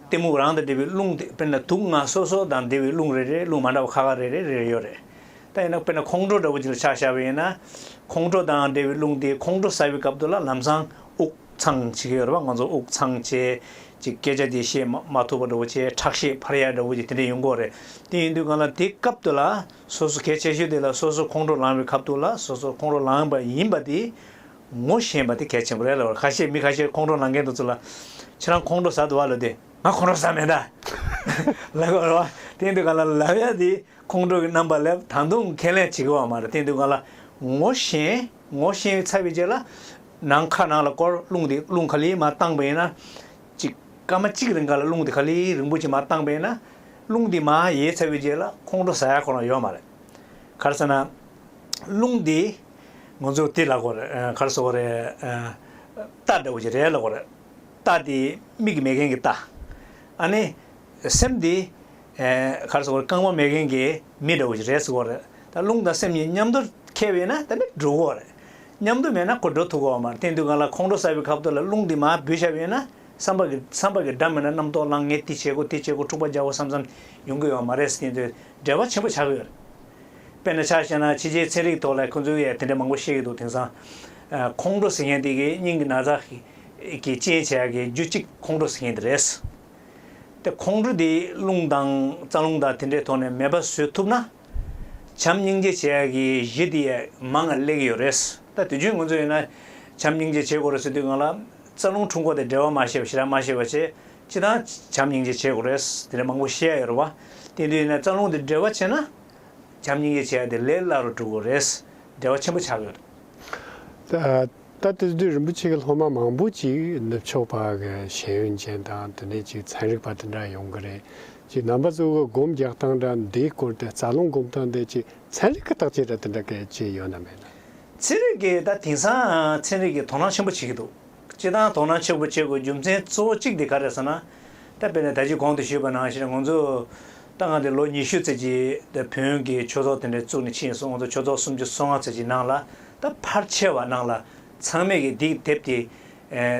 གཏི་མུག་རང་དང་འབྲེལ་བའི་རླུང་དེ་དཔེར་ན་དུག་ལྔ་སོ་སོ་དང་འབྲེལ་བའི་རླུང་རེ་རེ་རླུང་མ་འདྲ་བ་ཁ་ཁ་རེ་རེ་རེ་རེ་ཡོད་རེད། ད་ཡིན་ན་དཔེར་ན་ཁོང་ཁྲོ་འདྲ་བོ་གཅིག་ལ་ཆགས་བཞག་པ་ཡིན་ན། ཁོང་ཁྲོ་དང་འབྲེལ་བའི་རླུང་དེ་ཁོང་ཁྲོ་ཟ་བའི་སྐབས་དུ་ལ་ལམ་སང་དབུགས། ཚང་གཅིག་ཡོད་རེད་པ་ང་ཚོ་དབུགས་ཚང་བཅས་ཀྱི་སྐད་ཆ་དེ་བཤད་མ་ཐུབ་པ་འདྲ་བོ་ཆེ་ཁྲག་ཤེད་འཕར་ཡ་འདྲ་བོ་ཅིག་དེ་འདྲ་ཡོང་དགོས་རེད་དེ་ཡིན་དུས་གང་ལ་དེ་སྐབས་དེ་ལ་སོ་སོ་གལ་ཆེ་ཤོས་དེ་ལ་སོ་སོ་ཁོང་ཁྲོ་ལངས་པའི་ཁབ་ཐུག་ལ་སོ་སོ་ཁོང་ཁྲོ་ལངས་པ་ཡིན་པ་དེ་ངོ་ཤེས་པ་དེ་གལ་ཆེན་པོ་རེད་ལབ་ཁ་ཤས་མི་ཁ་ཤས་ཁོང་ཁྲོ་ལངས་མཁན་དེ་ཚོ་ལ་ཁྱེད་རང་ཁོང་ཁྲོ་ཟ་འདོད་བ་ལོས་དེ་ང་ཁོང་ཁྲོ་ཟ་མེད་ད་ལབ་དགོས་རེད་བ་དེ་ཡིན་དུས་གང་ལ་ལབ་ཡ་དེ་ཁོང་ཁྲོ་གི་རྣམ་པ་ལབ་ད་དུང་ཁས་ལེན་བྱེད་དགོས་བ་མ་རེད་དེ་ཡིན་དུས་གང་ལ་ངོ་ཤེས། ངོ་ཤེས་པའི་ཚ་བའི་རྗེས་ལ། ནང་ཁ་ནང་ལ་སྐོར་རླུང་དེ་རླུང་ག་ལེའི་མ་བཏང་པས་ན། གཅིག། སྐར་མ་གཅིག་རིང་ག་ལ་རླུང་དེ་ག་ལེའི་རིང་པོ་ཆེ་མ་བཏང་པས་ན། རླུང་དེ་མ་ཡའི་ཚ་བའི་རྗེས་ལ་ཁོང་ཁྲོ་ཟ་ཡ་ཁོ་ན་ཡོད་མ་རེད། གར་ཟེར་ན། རླུང་དེ། ང་ཚོས་དེ་ལ་གོ་རེ། གར་ཟེར་བ་རེ། རྟ་འདྲ་བོ་ཆེ་རེ་ལ་གོ་རེ། རྟ་དེ་མིག་གི་མེད་མཁན་གྱི་རྟ། ཨ་ནི། སེམས་དེ། གར་སོགས་རྐང་པ་མེད་མཁན་གྱི་མི་འདྲ་བོ་ཞིག་རེད་ཟེར་བ་རེད། ད་རླུང་དང་སེམས་གཉིས་མཉམ་དུ་ཁེལ་བས་ན་ད་ནི་འགྲོ་གོ་རེད། མཉམ་དུ་མེད་ན་གོ་འགྲོ་ཐུབ་གོ་བ་མ་རེད་དེང་དུས་གང་ལ་ཁོང་ཁྲོ་ཟ་བའི་ཁབ་ཐོག་ལ་རླུང་དེ་མ་བུད་ཤ་བས་ན་བསམ་པ་བསམ་པ་གྱི་སྒྲ་མེད་ན་རྣམ་རྟོག་བསླང་ངེས་དེ་བྱེད་གོ་དེ་བྱེད་གོ་འཁྲུག་པ་རྒྱག་གོ་བསམ་བསམ་ཡོང་གི་ཡོད་བ་མ་རེད་དེང་དུས་བྲེལ་བ་ཆེན་པོ་ཆགས་ཀྱི་ཡོད་རེད། དཔེར་ན་ཆ་བཤད་ན་ཕྱི་རྒྱལ་ཚན་རིག་ཐོག་ལ་ཁོང་ཚོས་དེ་འདྲ་མང་པོ་བཤད་ཀྱི་འདུག་དེང་སང། ཁོང་ཁྲོ་ཟེར་མཁན་དེ་གི་སྙིང་གི་ན་ཚ་གི་རྐྱེན་བྱས་ཀྱི་རྒྱུ་གཅིག་ཁོང་ཁྲོ་ཟེར་མཁན་དེ་རེད། དེ་ཁོང་ཁྲོ་དེའི་རླུང་དང་རྩ་རླུང་དག་དེ་འདྲའི་ཐོག་ནས་མེད་པ་བཟོས་ཐུབ་ན། བྱམས་སྙིང་རྗེ་བྱེད་ཡག་གི་གཞི་དེ་ཡས་མ་ང་གླེགས་ཡོད་རེད། ད་དུས་རྒྱུན་ང་ཚོ་ཡིན་ན་བྱམས་སྙིང་རྗེ་བྱེད་དགོ་རེད་ཟེར་དུས་ང་ལ་རྩ་རླུང་འཁྲུ་འགོ་དེ་འབྲེལ་བ་མ་ཤེས་པ་ཞེ་དྲག་མ་ཤེས་པ་བྱེད་ཅི་དང་བྱམས་སྙིང་རྗེ་བྱེད་དགོ་རེད་དེ་འདྲ་མང་པོ་བཤད་ཡ་ཡོད་རེད་བ། དེ་དུས་ཡིན་ན་རྩ་རླུང་དེ་འབྲེལ་བ་བྱེད་ན། བྱམས་སྙིང་རྗེ་བྱེད་ཡག་དེ་ལས་སླ་རུ་འགྲོ་དགོ་རེད། འབྲེལ་བ་ཆེན་པོ་ཆགས་ཡོད་རེད། ད་དེ་དུས་རིན་པོ་ཆེ་གི་སློབ་མ་མང་པོ་ཅིག་ནུབ་ཕྱོགས་པ་གི་ཤེས་ཡོན་ཅན་དང་དེ་ནས་ཅིག་ཚན་རིག་པ་དེ་འདྲ་ཡོང་གི་རེད་ཅིག་རྣམ་པ་གཙོ་བོ་སྒོམ་རྒྱག་སྟངས་འདྲ་འདིའི་སྐོར་དེ་རྩ་རླུང་སྒོམ་སྟངས་འདི་ཅིག་ཚན་རིག་གི་བརྟག་དཔྱད་འདྲ་དེ་འདྲ་གལ་ཆེ་ཡོད་ན་མེད་ན། ཚན་རིག་གིས་ད་དེང་སང་ཚན་རིག་གིས་དོ་སྣང་ཆེན་པོ་བྱེད་ཀྱི་འདུག་སྤྱི་དང་དོ་སྣང་ཆེ་པོ་བྱེད་དགོས་རྒྱུ་མཚན་གཙོ་བོ་གཅིག་དེ་ག་རེད་ཟེར་ན། ད་དཔེར་ན་ད་ཅིག་གོང་དུ་ཞུས་པ་ནང་བཞིན་ང་ཚོ། ད་ང་དེ་ལོ་ཉི་ཤུ་ཚེ་གཅིག་དེ་བོན་གྱི་ཆོས་ཚོགས་དེ་འདྲ་བཙུགས་ནས་ཕྱིན་སོང་ང་ཚོ་ཆོས་ཚོགས་སུམ་ཅུ་སོ་ལྔ་ཚེ་གཅིག་ནང་ལ་ད་ཕར་ཆེ་བ་ནང་ལ་ཚང་མེད་ཀྱི་སྡིག་དེབ་དེ་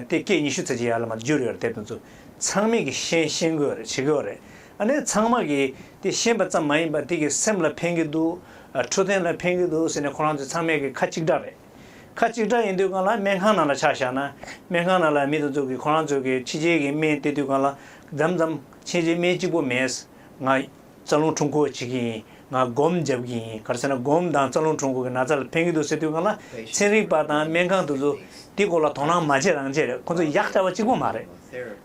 དེ་སྐད་ཉི་ཤུ་ཚེ་གཅིག་ཡར་ལ་མར་བསྒྱུར་ཡོད་རེད་དེབ་དོན་ཚོ་ཚང་མེད་ཀྱི་ཤེས་ཤེས་དགོས་རེད་བྱེད་དགོས་རེད་ཨ་ནེ་ཚང་མ་གི་དེ་ཤེས་པ་ཙམ་མ་ཡིན་པ་དེ་གི་སེམས་ལ་ཕན་གི་འདུག་འཕྲོད་བསྟེན་ལ་ཕན་གི་འདུག་ཟེར་ནས་ཁོ་རང་ཚོ་ཚང་མེད་ཀྱི་ཁ་གཅིག་གྲགས་རེད་ཁ་གཅིག་གྲགས་ཡིན་དུས་གང་ལ་སྨན་ཁང་ནང་ལ་ཆ་བཞག་ན་སྨན་ཁང་ནང་ལ་མི་དེ་ཚོ་གི་ཁོ་རང་ཚོ་གི་ཕྱི་རྒྱལ་གྱི་སྨན་དེ་དུས་གང་ལ་འཇམ་འཇམ། ཕྱིན་རིས་མེད་གཅིག་པོ་མེད། ང། རྩ་རླུང་འཁྲུངས་འཁོར་བྱེད་ཀྱི་ཡིན། ང་སྒོམ་རྒྱབ་ཀྱི་ཡིན་གར་ཟེར་ན་སྒོམ་དང་རྩ་རླུང་འཁྲུངས་འཁོར་གྱི་ན་ཚ་ལ་ཕན་གྱི་འདུག་ཟེར་དུས་གང་ལ་ཚན་རིག་པ་དང་སྨན་ཁང་དུ་ཚོ་དེ་སྐོར་ལ་དོ་སྣང་མ་བྱེད་རང་བྱེད་རེད་ཁོང་ཚོ་ཡག་བྱ་བ་གཅིག་པོ་མ་རེད།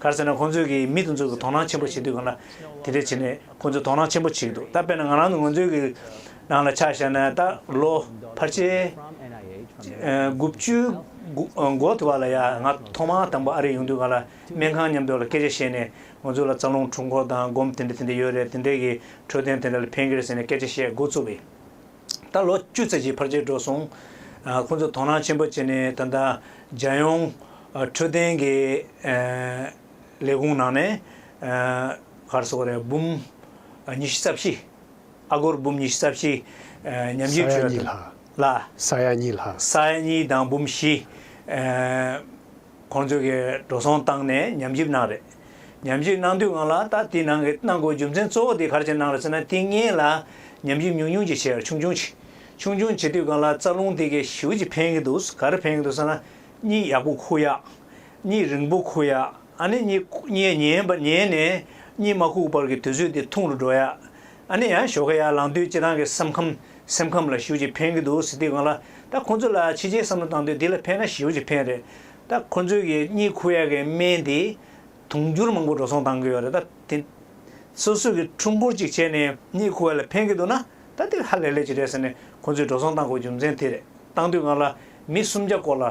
གར་ཟེར་ན་ཁོང་ཚོས་ཀྱི་མི་དེ་ཚོ་གི་དོ་སྣང་ཆེན་པོ་བྱེད་དུས་གང་ལ་དེ་འདྲས་བྱེད་ནས་ཁོང་ཚོས་དོ་སྣང་ཆེན་པོ་བྱེད་ཀྱི་འདུག་ད་དཔེར་ན་ང་རང་ཚོ་ང་ཚོའི་གི་རང་ལ་ཆ་བཞག་ན་ད་ལོ་ཕར་ཆེར་དགུ་བཅུའི་འགོ་འགོ་ཐུབ་པ་ལ་ཡ་ང་ཐོག་མ་དང་པོ་ཨ་རི་ཡོང་དུས་གང་ལ་སྨན་ཁང་མཉམ་འདོགས་ལ་སྐད་ཆ་བཤད་ནས་ང་ཚོ་ལ་རྩ་རླུང་འཁྲུག་འགོ་དང་སྒོམ་དེ་འདྲ་དེ་འདྲ་ཡོད་རེད་དེ་འདྲས་ཀྱི་འཕྲོད་བསྟེན་དེ་འདྲ་ལ་ཕན་གི་རེད་ཟེར་ནས་སྐད་ཆ་བཤད་འགོ་བཙུགས་པས། ད་ལོ་བཅུ་ཚར་གྱི་ཕར་ཆེར་འགྲོ་སོང། ཁོང་ཚོས་དོ་སྣང་ཆེན་པོ་བྱས་ནས་ད་ལྟ་རྒྱལ་ཡོངས་འཕྲོད་བསྟེན་གྱི་ལས་ཁུངས་ནང་ནས་སྒར་སོ་རེ་འབུམ་ཉི་བཞི་རྩ་བཞི། ཨ་སྒོར་འབུམ་ཉི་བཞི་རྩ་བཞི་ཉམས་ཞིབ་ཞུས་པ་དང། ས་ཡ་གཉིས་ལྷག། ས་ཡ་གཉིས་དང་འབུམ་བཞི། ཁོང་ཚོས་གི་འགྲོ་སོང་བཏང་ནས་ཉམས་ཞིབ་གནང་རེད། ཉམས་ཞིབ་གནང་དུས་ང་ལ་ད་དེ་གནང་གི་གནང་དགོས་རྒྱུ་མཚན་གཙོ་བོ་དེ་གར་ཕྱིར་གནང་རེད་ཟེར་ན་དེ་ངས་ལ་ཉམས་ཞིབ་ཉུང་ཉུང་ཅིག་བྱས་ཆུང་ཆུང་བྱས་ཆུང་ཆུང་བྱས་དུས་གང་ལ་རྩ་རླུང་དེ་གི་ཞིབ་ཅིག་འཕེན་གི་འདུག་ག་རེ་འཕེན་གི་འདུག་ཟེར་ན་གཉིད་ཡག་པོ་ཁུག་ཡག། གཉིད་རིང་པོ་ཁུག་ཡག་ཨ་ནི་གཉིད་ཉལ་ནས་གཉིད་མ་ཁུག་བར་གི་དུས་ཚོད་དེ་ཐུང་རུ་འགྲོ་ཡག་ཨ་ནེ་ཡང་ཞོགས་ཁ་ཡར་ལངས་དུས་ཁྱེད་རང་གི་བསམ་ཁམས་སེམས་ཁམས་ལ་ཞིའུ་ཅི་ཕེན་གི་འདུག་ཟེར་དུས་གང་ལ་ད་ཁོང་ཚོ་ལ་ཕྱི་རྒྱལ་བསམ་བློ་བཏང་དུས་འདི་ལ་ཕན་ན་ཞིའུ་ཅི་ཕེན་རེད་ད་ཁོང་ཚོའི་གི་གཉིད་ཁུག་ཡག་གི་སྨན་དེས་དུང་འགྱུར་མང་པོ་འགྲོ་སོང་བཏང་གི་ཡོད་རེད་ད་དེ་སོ་སོས་གི་ཁྲུམ་བུར་ཅིག་བྱས་ནས་གཉིད་ཁུག་བ་ལ་ཕན་གི་འདུག་ན་ད་དེ་ཧ་ལས་ལས་ཅིག་རེད་ཟེར་ནས་ཁོང་ཚོས་འགྲོ་སོང་བཏང་དགོས་རྒྱུ་མཚན་དེ་རེད་བཏང་དུས་གང་ལ་མི་སུམ་བརྒྱ་སྐོར་ལ།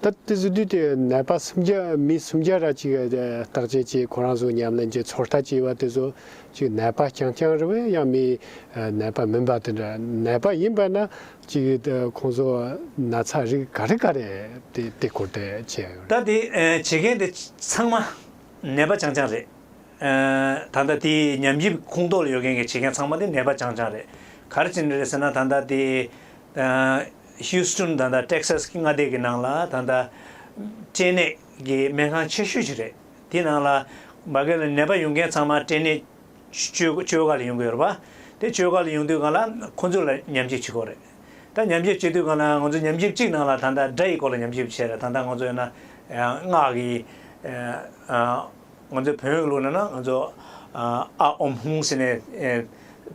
ད་ལྟ་གཟི་བདུད་དེ་ནད་པ་སུམ་བརྒྱ་མི་སུམ་བརྒྱ་ར་གཅིག་བརྟག་དཔྱད་ཀྱིས་ཁོ་རང་ཟུག་ཉམས་ལེན་གྱི་ཚོར་ལྟ་བྱས་པ་དེ་ཚོ་གཅིག་ནད་པ་རྐྱང་རྐྱང་རེ་བས་ཡང་མི་ནད་པ་མིན་པ་དེ་འདྲ་ནད་པ་ཡིན་པས་ན་གཅིག་ཁོང་ཚོ་ན་ཚ་རིགས་ག་རེ་ག་རེ་དེ་དེ་ཁོ་ཐད་བྱས། ད་དེ་བྱེད་མཁན་དེ་ཚང་མ་ནད་པ་རྐྱང་རྐྱང་རེད། ད་ལྟ་དེ་ཉམས་ཞིབ་ཁུངས་གཏོགས་ལ་ཡོད་མཁན་གྱི་བྱེད་མཁན་ཚང་མ་དེ་ནད་པ་རྐྱང་རྐྱང་རེད། ག་རེ་བྱེད་འདོད་རེད་ཟེར་ན་ད་ལྟ་དེ། Houston དང་ད Texas གི་མངའ་སྡེ་གི་ནང་ལ་ད་ད་སྐྲན་ནད་ཀྱི་སྨན་ཁང་ཆེ་ཤོས་ཤིག་རེད་དེའི་ནང་ལ་མ་གལ་ལ་ནད་པ་ཡོང་མཁན་ཚང་མ་སྐྲན་ནད་བཅོས་ག་ལ་ཡོང་གི་ཡོད་པ་དེ་བཅོས་ག་ལ་ཡོང་དུས་གང་ལ་ཁོང་ཚོ་ལ་ཉམས་ཞིབ་བྱེད་དགོས་རེད་ད་ཉམས་ཞིབ་བྱེད་དུས་གང་ལ་ང་ཚོ་ཉམས་ཞིབ་གཅིག་ནང་ལ་ད་ད་དགྲ་ཡི་སྐོར་ལ་ཉམས་ཞིབ་བྱེད་རེད་ད་ད་ང་ཚོ་ཡང་ན་སྔགས་ཀྱི་ང་ཚོའི་བོན་བོན་ལུགས་ནང་ན་ང་ཚོ་ཨ་འོམ་ཧུང་ཟེར་ནས་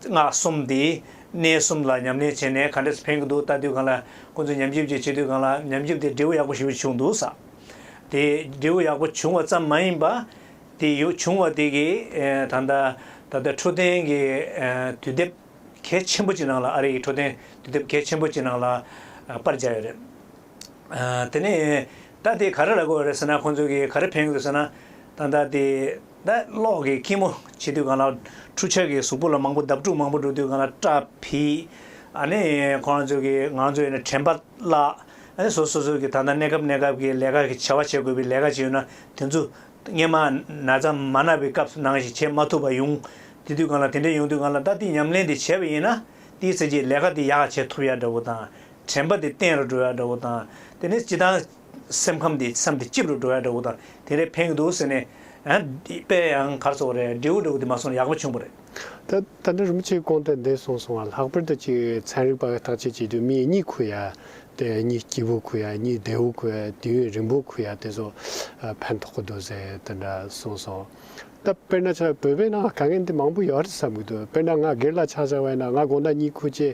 སྔགས་གསུམ་དེས་གནས་གསུམ་ལ་ཉམས་ལེན་བྱས་ནས་ག་འདྲས་སུ་ཕན་གྱི་འདུག་ལྟ་དུས་གང་ལ་ཁོང་ཚོས་ཉམས་ཞིབ་ཅིག་བྱེད་དུས་གང་ལ་ཉམས་ཞིབ་དེ་འབྲས་བུ་ཡག་པོ་ཞིག་བྱུང་འདུག་ས་དེ་འབྲས་བུ་ཡག་པོ་བྱུང་བ་ཙམ་མ་ཡིན་པ། དེ་བྱུང་བ་དེ་གིས་ད་ལྟ་ད་ལྟ་འཕྲོད་བསྟེན་གྱི་དུས་དེབ་གལ་ཆེན་པོ་གཅིག་ནང་ལ་ཨ་རིའི་འཕྲོད་བསྟེན་དུས་དེབ་གལ་ཆེན་པོ་གཅིག་ནང་ལ་པར་བྱས་ཡོད་རེད། དེ་ནས་ད་དེ་ག་རེ་ལ་གོ་བ་རེད་ཟེར་ན་ཁོང་ཚོས་གིས་ག་རེ་ཕན་དགོས་ཟེར་ན། ད་ལྟ་དེ། ད་གློག་གི་ཁྱི་མོ་བྱེད་དུས་གང་ལགས། འཕྲུ་ཆར་གྱི་གཟུགས་པོ་ལ་མང་པོ་འདབ་དཀྲུག་མང་པོ་འགྲོ་དུས་གང་ལགས་སྐྲ་ཕིག། ཨ་ནི་ཁོང་རང་ཚོས་གིས་ང་རང་ཚོའི་ནི་དྲན་པ་བརླགས། ཨ་ནི་སོ་སོ་སོ་གིས་ད་ལྟ་གནས་སྐབས་གནས་སྐབས་ཀྱི་ལས་ཀ་གི་བྱ་བ་བྱེད་དགོས་པའི་ལས་ཀ་བྱས་ཡོད་ན་དེ་ཚོ། སྙེ་མ། ན་ཚ་མ་ན་བའི་སྐབས་ནང་བཞིན་བྱེད་མ་ཐུབ་པ་ཡོང། དེ་དུས་གང་ལགས་དེ་འདྲས་ཡོང་དུས་གང་ལགས་ད་དེ་ཉམས་ལེན་དེ་བྱས་པ་ཡིན་ན། དེའི་ཚེ་རྗེས་ལས་ཀ་དེ་ཡག་བྱེད་ཐུབ་ཡག་འདྲ་བོ་དང། དྲན་པ་དེ་གཏན་རུ་འགྲོ་ཡག་འདྲ་བོ་དང། དེ་ནས་སྤྱི་དང། སེམས་ཁམས་དེ་བསམ་དེ་སྐྱིད་རུ་འགྲོ་ཡག་འདྲ་བོ་དང། དེ་རེད་ཕན་གི་འདུག་ཟེར་ནས། དཔེ་ཡང་གར་སོང་བ་རེད་འབྲས་བུ་འདྲ་བོ་དེ་མ་སོང་ན་ཡག་པོ་བྱུང་བ་རེད། ད་ད་ནི་རིན་པོ་ཆེའི་སྐོང་སྟེ་འདས་སོང་སོང་བ་ལྷག་པར་དུ་གཅིག་ཚན་རིག་པ་བརྟག་དཔྱད་བྱེད་དུས་མི་ཡི་གཉིད་ཁུག་ཡ་དེ་གཉིད་སྐྱིད་པོ་ཁུག་ཡ་གཉིད་བདེ་བོ་ཁུག་ཡ་དུས་ཡུན་རིང་པོ་ཁུག་ཡ་དེ་ཚོ་ཕན་ཐོགས་གི་འདུག་ཟེར་དེ་འདྲ་གསུངས་སོང། ད་དཔེར་ན་ཆ་བོད་པའི་ནང་དཀའ་ངལ་འདི་མང་པོ་ཡོད་རེད་བསམ་གི་འདུག་དཔེར་ན་ང་སྒེར་ལ་ཆ་ཆག་བས་ན་ང་དགོང་ད་གཉིད་ཁུག་ཅེས་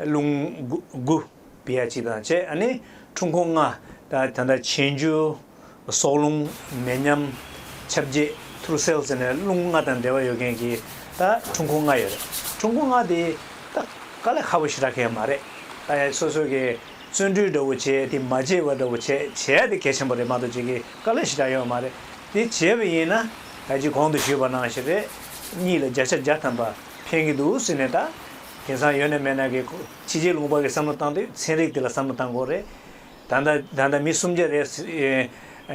རླུང་དགུ། བརྒྱད་གཅིག་དང་བཅས་ནི་འཁྲུངས་འཁོར་ལྔ། ད་ལྟ་ཆེན་རྒྱུ་སྲོག་རླུང་མེ་མཉམ། ཁྱབ་བརྒྱད་ཐུར་སེལ་ཟེར་ནས་རླུང་ལྔ་དང་འབྲེལ་བ་ཡོད་མཁན་གྱི་ད་འཁྲུངས་འཁོར་ལྔ་ཡོད་རེད། འཁྲུངས་འཁོར་ལྔ་དེ་ད་ག་ལ་ཁ་བོ་ཞིག་རག་མཁན་མ་རེད། ད་ཡ་སོ་སོ་གི་བརྩོན་འགྲུས་འདྲ་བོ་བྱས་དེ་མ་བྱས་བ་འདྲ་བོ་བྱས་བྱས་དེ་གལ་ཆེན་པོ་རེད་མ་གཏོགས་བྱེད་ཀྱི་ག་ལ་ཞིག་རག་ཡོད་མ་རེད། དེ་བྱས་བ་ཡིན་ན་ད་ཅི་གོང་དུ་ཞུས་པ་ནང་བཞིན་རེད། གཉིས་ལ་བརྒྱ་ཆ་བརྒྱ་ཐམ་པ། ཕན་གྱི་འདུག་ཟེར་ནས་ད། དེང་སང་ཡོད་ནས་མེད་ན་གི། ཕྱི་རྗེས་ལུང་པ་གི་བསམ་བློ་བཏང་དུས་ཚན་རིག་དེ་ལ་བསམ་བློ་བཏང་དགོས་རེད། ད་ད་ལྟ་མི་གསུམ་བརྒྱ་རེད།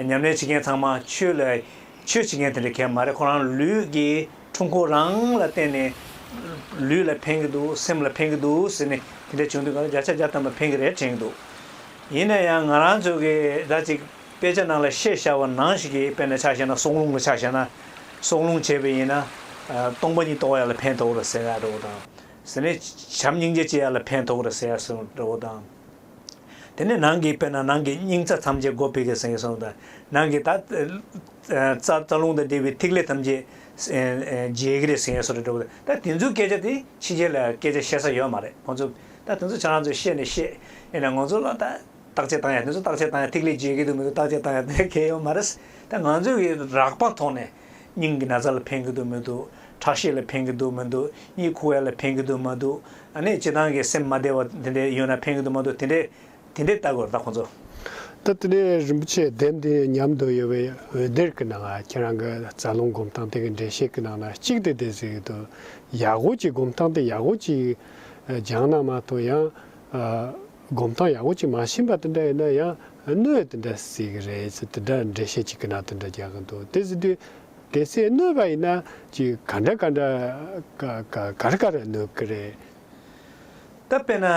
ཉམས་ལེན་བྱེད་མཁན་ཚང་མ་ཆོས་ལ། ཆོས་བྱེད་མཁན་དེ་འདྲ་གལ་མ་རེད་ཁོ་རང་ལུས་ཀྱི་འཁྲུངས་འཁོར་རང་ལ་བརྟེན་ནས། ལུས་ལ་ཕན་གྱི་འདུག་སེམས་ལ་ཕན་གྱི་འདུག་ཟེར་ནས་དེ་འདྲ་བྱུང་དུས་ང་རང་བརྒྱ་ཆ་བརྒྱ་བཏང་བ་ཕན་གྱི་རེད་དྲན་གྱི་འདུག། ཡིན་ན་ཡང་ང་རང་ཚོ་གི་ཟླ་གཅིག། དཔེ་ཆ་ནང་ལ་ཤེས་བྱ་བ་ནང་ཞིག་གིས་དཔེར་ན་ཆ་བྱས་ན་སྲོག་རླུང་གི་ཆ་བྱས་ན། སྲོག་རླུང་བྱས་པས་ཡིན་ན། སྟོང་པ་ཉིད་རྟོགས་ཡ་ལ་ཕན་ཐོགས་ར་ཟེར་ཡ་འདྲ་བོ་དང། ཟེར་ནས། བྱམས་སྙིང་རྗེ་སྐྱེ་ཡ་ལ་ཕན་ཐོགས་ར་ཟེར་ཡ་སོགས་འདྲ་བོ་དང། དེ་ནས་ནང་གི་དཔེར་ན་ནང་གི་སྙིང་རྩ་ཐམས་ཅད་སྒོ་ཕིག་གིས་ཟིན་སོགས་དང། ནང་གི་ད། རྩ་རྩ་རླུང་དང་འབྲེལ་བའི་ཐིག་ལེ་ཐམས་ཅད། འཇལ་གི་རེད་ཟིན་ཡ་སོགས་འདྲ་བོ་དང། ད་དེ་ཚོའི་སྐད་ཆ་དེ་ཕྱི་རྒྱལ་ལ་སྐད་ཆ་བཤད་ས་ཡོད་མ་རེད་ཁོང་ཚོས། ད་དེ་ཚོ་ཁྱེད་རང་ཚོས་ཤེས་ནི་ཤེས། ཡིན་ནའང་ང་ཚོ་ལ་ད། བརྟག་དཔྱད་བཏང་ཡ་དེ་ཚོ་བརྟག་དཔྱད་བཏང་ཡ་ཐིག་ལེ་བརྗེ་གི་འདུག་མི་འདུག་བརྟག་དཔྱད་བཏང་ཡ་དེ་གལ་ཡོད་མ་རེད། ད་ང་ཚོས་ཀྱི་རག་པ་ཐོག་ནས་སྙིང་གི་ན་ཚ་ལ་ཕན་གི་འདུག་མི་འདུག་ཁྲག་ཤེད་ལ་ཕན་གི་འདུག་མི་འདུག་གཉིད་ཁུག་ཡ་ལ་ཕན་གི་འདུག་མ་འདུག་ཨ་ནས་བྱེད་སྟངས་ཀྱི་སེམས་མ་བདེ་བ་དེ་འདྲས་ཡོད་ན་ཕན་གི་འདུག་མ་འདུག་དེ་འདྲས་དེ་འདྲས་བལྟ་དགོས་རེད་ད་ཁོང་ཚོ། ད་དེ་ནས་རིན་པོ་ཆེ་ལྡེམ་དེ་ཉམས་དུ་ཡོད་པའི་འོད་སྡེར་གི་ནང་ཁྱེད་རང་གི་རྩ་རླུང་སྒོམ་སྟངས་དེ་གི་འགྲེལ་བཤད་གི་ནང་ན་གཅིག་དེ་བསྡད་ཟིག་འདུག་ཡག་གོ་གཅིག་སྒོམ་སྟངས་དེ་ཡག་གོ་གཅིག་སྦྱང་ན་མ་མཐོང་ཡང། སྒོམ་སྟངས་ཡག་པོ་གཅིག་མ་ཕྱིན་པ་དེ་འདྲ་ཡིན་ན་ཡང་གནོད་དེ་འདྲ་སྲིད་གི་རེད་ཅེས་དེ་འདྲ་འགྲེལ་བཤད་ཅིག་གི་ནང་དེ་འདྲ་རྒྱག་གི་འདུག་དེ་སྲིད་དུས་དེ་ཚེ་གནོད་པ་ཡིན་ན་ཅི་ག་འདྲ་ག་འདྲ་ག་རེ་ག་རེ་གནོད་གི་རེད། ད་དཔེར་ན་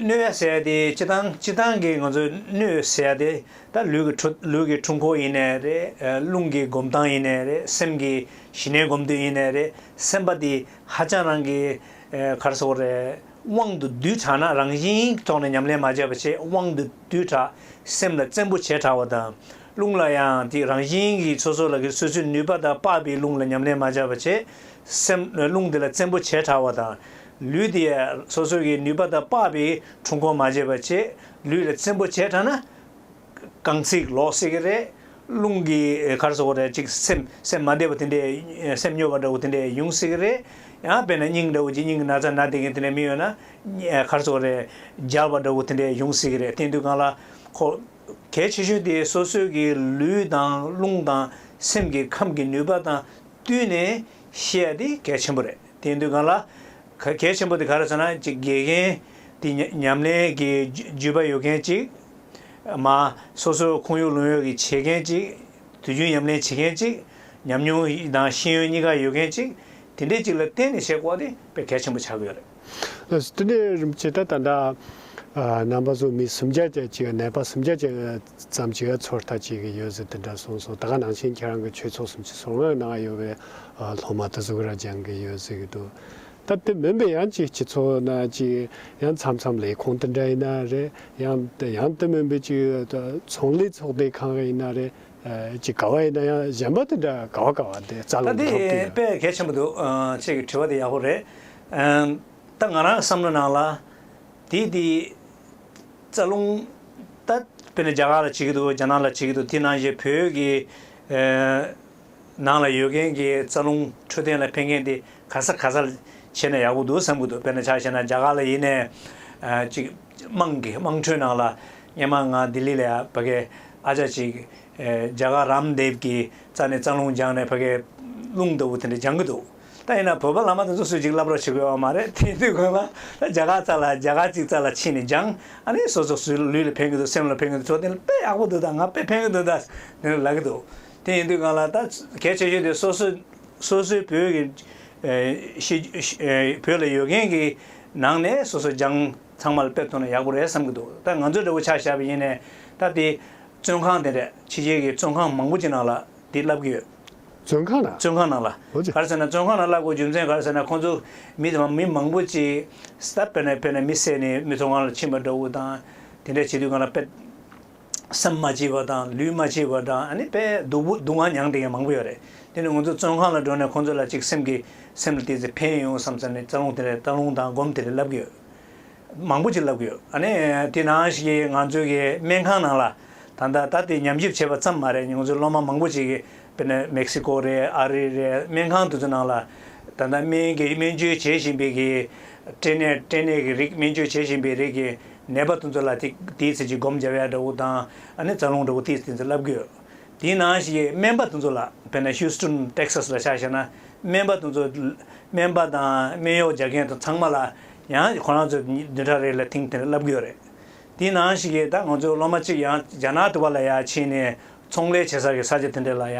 གནོད་ཡ་ཟེར་དེ་སྤྱི་དང་སྤྱི་དང་གི་ང་ཚོས་གནོད་ཟེར་དེ་ད་ལུས་ཀྱི་འཁྲུལ་འཁོར་ཡིན་ནའི་རེད་རླུང་གི་སྒོམ་སྟངས་ཡིན་ནའི་རེད་སེམས་ཀྱི་ཞི་གནས་སྒོམ་དུས་ཡིན་ནའི་རེད་སེམས་པ་དེ་ཧ་ཅང་རང་གི་གར་སོ་རེད། དབང་དུ་སྡུད་དྲགས་ན་རང་བཞིན་གྱི་ཐོག་ནས་ཉམས་ལེན་མ་བྱས་པ་ཆེས་དབང་དུ་སྡུད་དྲགས། སེམས་ལ་བཙན་པོ་བྱེད་དྲགས་པ་དང། རླུང་ལ་ཡང་དེ་རང་བཞིན་གྱིས་སོ་སོ་ལ་གི་སོ་སོའི་ནུས་པ་དང་དཔག་པའི་རླུང་ལ་ཉམས་ལེན་མ་བྱས་པ་ཆེས་སེམས་རླུང་དེ་ལ་བཙན་པོ་བྱེད་དྲགས་པ་དང། ལུས་དེ་སོ་སོ་གི་ནུས་པ་དང་དཔག་པའི་འཁྲུལ་འཁོར་མ་བྱས་པ་ཆེས་ལུས་ལ་བཙན་པོ་བྱེད་དྲགས་ན། རྐང་ཚིག་ལོག་སྲིད་ཀྱི་རེད། རླུང་གི་གར་སོགས་རེད་ཅིག་སེམས་སེམས་མ་བདེ་བ་དེ་འདྲའི་སེམས་སྨྱོ་བ་འདྲ་བོ་དེ་འདྲའི་ཡོང་སྲིད་ཀྱི་རེད། ཡང་དཔེར་ན་སྙིང་འདྲ་བོ་ཅིག་སྙིང་གི་ན་ཚ་ན་དེ་གི་དེ་འདྲའི་མི་ཡོད་ན། གར་སོགས་རེད་སྦྱར་བ་འདྲ་བོ་དེ་འདྲའི་ཡོང་སྲིད་ཀྱི་རེད་དེའི་དུས་གང་ལ། ཁོ། གལ་ཆེ་ཤོས་དེ་སོ་སོའི་གི་ལུས་དང་རླུང་དང་སེམས་ཀྱི་ཁམས་ཀྱི་ནུས་པ་དང་བསྟུན་ནས་ཤེས་ཡ་དེ་གལ་ཆེན་པོ་རེད་དེའི་དུས་གང་ལ། གལ་ཆེན་པོ་དེ་ག་རེད་ཟེར་ན་ཅིག་དགེ་རྒན་དེ་ཉམས་ལེན་གི་རྒྱུས་པ་ཡོད་མཁན་ཅིག་མ། སོ་སོའི་ཁོངས་ཡུལ་ལུང་ཡོད་ཀྱི་བྱེད་མཁན་གཅིག། དུས་རྒྱུན་ཉམས་ལེན་བྱེད་མཁན་གཅིག། ཉམས་མྱོང་དང་ཤེས་ཡོན་གཉིས་ཀ་ཡོད་མཁན་གཅིག། དེ་འདྲའི་གཅིག་ལ་བརྟེན་ནས་བྱེད་སྒོ་དེ་སྤེལ་གལ་ཆེན་པོ་ཆགས་ཀྱི་ཡོད་རེད། སྟོན་པའི་རིམ་བྱེད་ད་ལྟ། ནང་པ་ཚོ་མི་སུམ་བརྒྱ་ཅན་གཅིག་ནད་པ་སུམ་བརྒྱ་ཅན་ཙམ་གཅིག་ཚོར་ལྟ་བྱེད་ཀྱི་ཡོད་ཟེར་དེ་འདྲ་གསུངས་སོང་ད་ག་ནང་ཆེན་ཁྱེད་རང་གི་ཆོས་ཚོགས་སུམ་ཅུ་སོ་ལྔ་ནང་ཡོད་པའི་སློབ་མ་དེ་ཚོ་གི་ར་སྦྱང་གི་ཡོད་ཟེར་གྱི་འདུག་སྟབས་དེ་མིན་པའི་ཡང་ཅིག་སྤྱི་ཚོགས་ན་ཅིག་ཡང་མཚམས་མཚམས་ལས་ཁང་དེ་འདྲ་ཡིན་ན་རེད་ཡང་ཡང་དེ་མིན་པའི་ཅིག་ཚོང་ལས་ཚོགས་སྡེ་ཁང་ཡིན་ན་རེད་ཅིག་ག་བ་ཡིན་ན་ཡང་གཞན་པ་དེ་འདྲ་ག་བ་ག་བ་དེ་རྩ་ད་རླུང་འདི་འདྲ་འདི་ཡིན། དཔེ་གལ་ཆེན་པོ་འདུག་ཁྱེད་ཀྱི་དྲི་བ་དེ་ཡག་པོ་རེད། ད་ང་རང་གི་བསམ་བློའི་ནང་ལ། དེའི་དེའི། རྩ་རླུང། ད་དཔེར་ན་རྒྱ་གར་ལ་བྱེད་ཀྱི་འདུག་རྒྱ་ནག་ལ་བྱེད་ཀྱི་འདུག་དེ་ནང་བཞིན་བོད་ཀྱི། ནང་ལ་ཡོད་མཁན་གྱི་རྩ་རླུང་འཕྲོད་བསྟེན་ལ་ཕན་མཁན་དེ་ག་ས་ག་སར་བྱས་ན་ཡག་པོ་འདུག་བསམ་གྱི་འདུག་དཔེར་ན་ཆ་བྱས་ན་རྒྱ་གར་ལ་ཡིན་ནས་ཅིག་དམངས་ཀྱི་དམངས་ཁྲོད་ནང་ལ་སྙན་མང་ངང་ལྡི་ལི་ལ་ཕ་གའི་ཨ་ཅག་ཅིག་རྒྱ་གར་རམ་འདེབས་ཀྱི་རྩ་ནས་རྩ་རླུང་སྦྱངས་ནས་ཕ་གའི་རླུང་ལྟ་བུ་དེ་འདྲ་སྦྱང་གི་འདུག་ད་ཡིན་ན་བོད་པ་ལ་མ་དེ་ཚོ་སུས་ཅིག་བསླབ་རོགས་བྱེད་དགོས་བ་མ་རེད་དེ་དུས་ཁོ་ལ་ད་རྒྱ་གར་རྩ་ལ་རྒྱ་གར་ཅིག་རྩ་ལ་ཕྱིན་ནས་སྦྱང་ཨ་ནི་སོ་སོ་སུའི་ལུས་ལ་ཕན་གྱི་འདུག་སེམས་ལ་ཕན་གྱི་འདུག་འཕྲོད་བསྟེན་ལ་དཔེ་ཡག་པོ་འདུག་ད་ང་དཔེ་ཕན་གྱི་འདུག་ད་དེ་འདྲ་ལབ་ཀྱི་འདུག། དེ་ཡིན་དུས་གང་ལ་ད་གལ་ཆེ་ཤོས་དེ་སོ་སོ་སོ་སོའི་བོད་ཀྱི་བོད་ལ་ཡོད་མཁན་གྱི་ནང་ནས་སོ་སོ་རྒྱང་ཚང་མ་ལ་སྤེལ་ཐུབ་ན་ཡག་པོ་རེད་བསམ་གྱི་འདུག་ད་ང་ཚོ་འདྲ་བོ་ཆ་བཞག་པ་ཡིན་ནས་ད་དེ་བཙོན་ཁང་དེ་འདྲ་ཕྱི་རྒྱལ་གྱི་བཙོན་ཁང་མང་པོ་ཅིག་ནང་ལ་དེ་བསླབ་གྱི་ཡོད། བཙོན་ཁང་ནང། བཙོན་ཁང་ནང་ལ། འོ་ཅི། ག་རེ་ཟེར་ན་བཙོན་ཁང་ནང་བསླབ་དགོས་རྒྱུ་མཚན་ག་རེ་ཟེར་ན་ཁོང་ཚོ་མི་དེ་མ་མི་མང་པོ་ཅིག་སྟབས་དཔེར་ན་དཔེར་ན་མི་བསད་ནས་མི་བཙོན་ཁང་ལ་ཕྱིན་པ་འདྲ་བོ་དང་དེ་འདྲ་བྱེད་དུས་གང་ལ་དཔེ། སེམས་མ་སྐྱིད་པ་དང་ལུས་མ་སྐྱིད་པ་དང་ཨ་ནི་དཔེ་སྡུག་པོ་སྡུག་བསྔལ་མྱངས་དེ་ཡང་མང་པོ་ཡོད་རེད་དེ་ནི་ང་ཚོ་བཙོན་ཁང་ལ་འགྲོ་ནས་ཁོང་ཚོ་ལ་ཅིག་སེམས་ཀྱི་སེམས་ལ་དེ་ཚོ་ཕན་ཡོང་བསམ་བསམ་ནས་རྩ་རླུང་དེ་རེད་རྩ་རླུང་དང་སྒོམ་དེ་རེད་ལབ་ཀྱི་ཡོད་མང་པོ་ཅིག་ལབ་ཀྱི་ཡོད་ཨ་ནི་དེ་ནང་ཞིག་གི་ང་ཚོའི་གི་སྨན་ཁང་ནང་ལ་ད་ལྟ་ད་ལྟའི་ཉམས་ཞིབ་བྱས་པ་ཙམ་མ་རེད་ང་ཚོའི་སློབ་མ་མང་པོ་ཅིག་གི་དཔེར་ན་མེག་སི་ཀོ་རེད་ཨ་རི་རེད་སྨན་ཁང་དེ་ཚོ་ནང་ལ་ད་ལྟ་སྨན་གྱི་སྨན་བཅོས་བྱེད་བཞིན་པའི་གི་སྐྲན་ནད་སྐྲན་ནད་ཀྱི་རིགས་སྨན་བཅོས་བྱེད་བཞིན་པའི་རིགས་ཀྱི་ནད་པ་དུ་ཚོད་ལ་ཐིག་དེའི་ཚེ་ཅི་སྒོམ་སྦྱར་ཡ་འདྲ་བོ་དང་ནི་རྩ་རླུང་འདྲ་བོ་དེའི་ཚེ་ཚེ་བསླབ་དགོས། དེའི་ནང་ཞིག་སྨན་པ་དུ་ཚོད་ལ་བལྟ་ན Houston Texas ལ་ཆ་བཞག་ན་སྨན་པ་དུ་ཚོད་སྨན་པ་དང་སྨན་གཡོག་སྦྱར་མཁན་དང་ཚང་མ་ལ་ཡང་ཁོ་རང་ཚོས་བདུན་ཕྲག་རེ་ལ་ཐིང་དེ་འདྲ་བསླབ་དགོས་རེད། དེའི་ནང་ཞིག་ད་ང་ཚོའི་སློབ་མ་གཅིག་ཡང་རྒྱ་ནག་དུ་བ་ལ་ཡ་ཕྱིན་ནས་ཚོང་ལས་བྱེད་ས་གི་ས་ཆ་དེ་འདྲ་ལ་ཡ་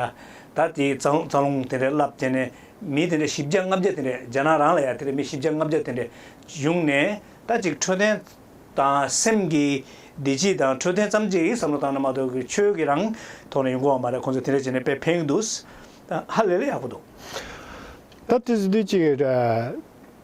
ད་དེའི་རྩ་རླུང་དེ་འདྲ་བསླབ་དེ་ནས་མི་དེ་འདྲ་བཞི་བརྒྱ་ལྔ་བརྒྱ་དེ་འདྲ་རྒྱ་ནག་རང་ལ་ཡ་དེ་འདྲ་མི་བཞི་བརྒྱ་ལྔ་བརྒྱ་དེ་འདྲ་བྱུང་ནས། ལྟ་ཅིག་འཕྲོད་བསྟེན་དང་སེམས་ཀྱི་བདེ་སྐྱིད་དང་འཕྲོད་བསྟེན་ཙམ་གྱི་བསམ་བློ་བཏང་ན་མ་གཏོགས་ཀྱི་ཆོས་ཀྱི་རང་ཐོག་ནས་ཡོང་གི་ཡོད་མ་རེད་ཁོང་ཚོས་དེ་འདྲ་བྱས་ནས་དཔེ་འཕེན་གྱི་འདུག་ཧ་ལས་ལས་ཡག་པོ་འདུག། ད་དེ་ཚོ་དུས་གཅིག་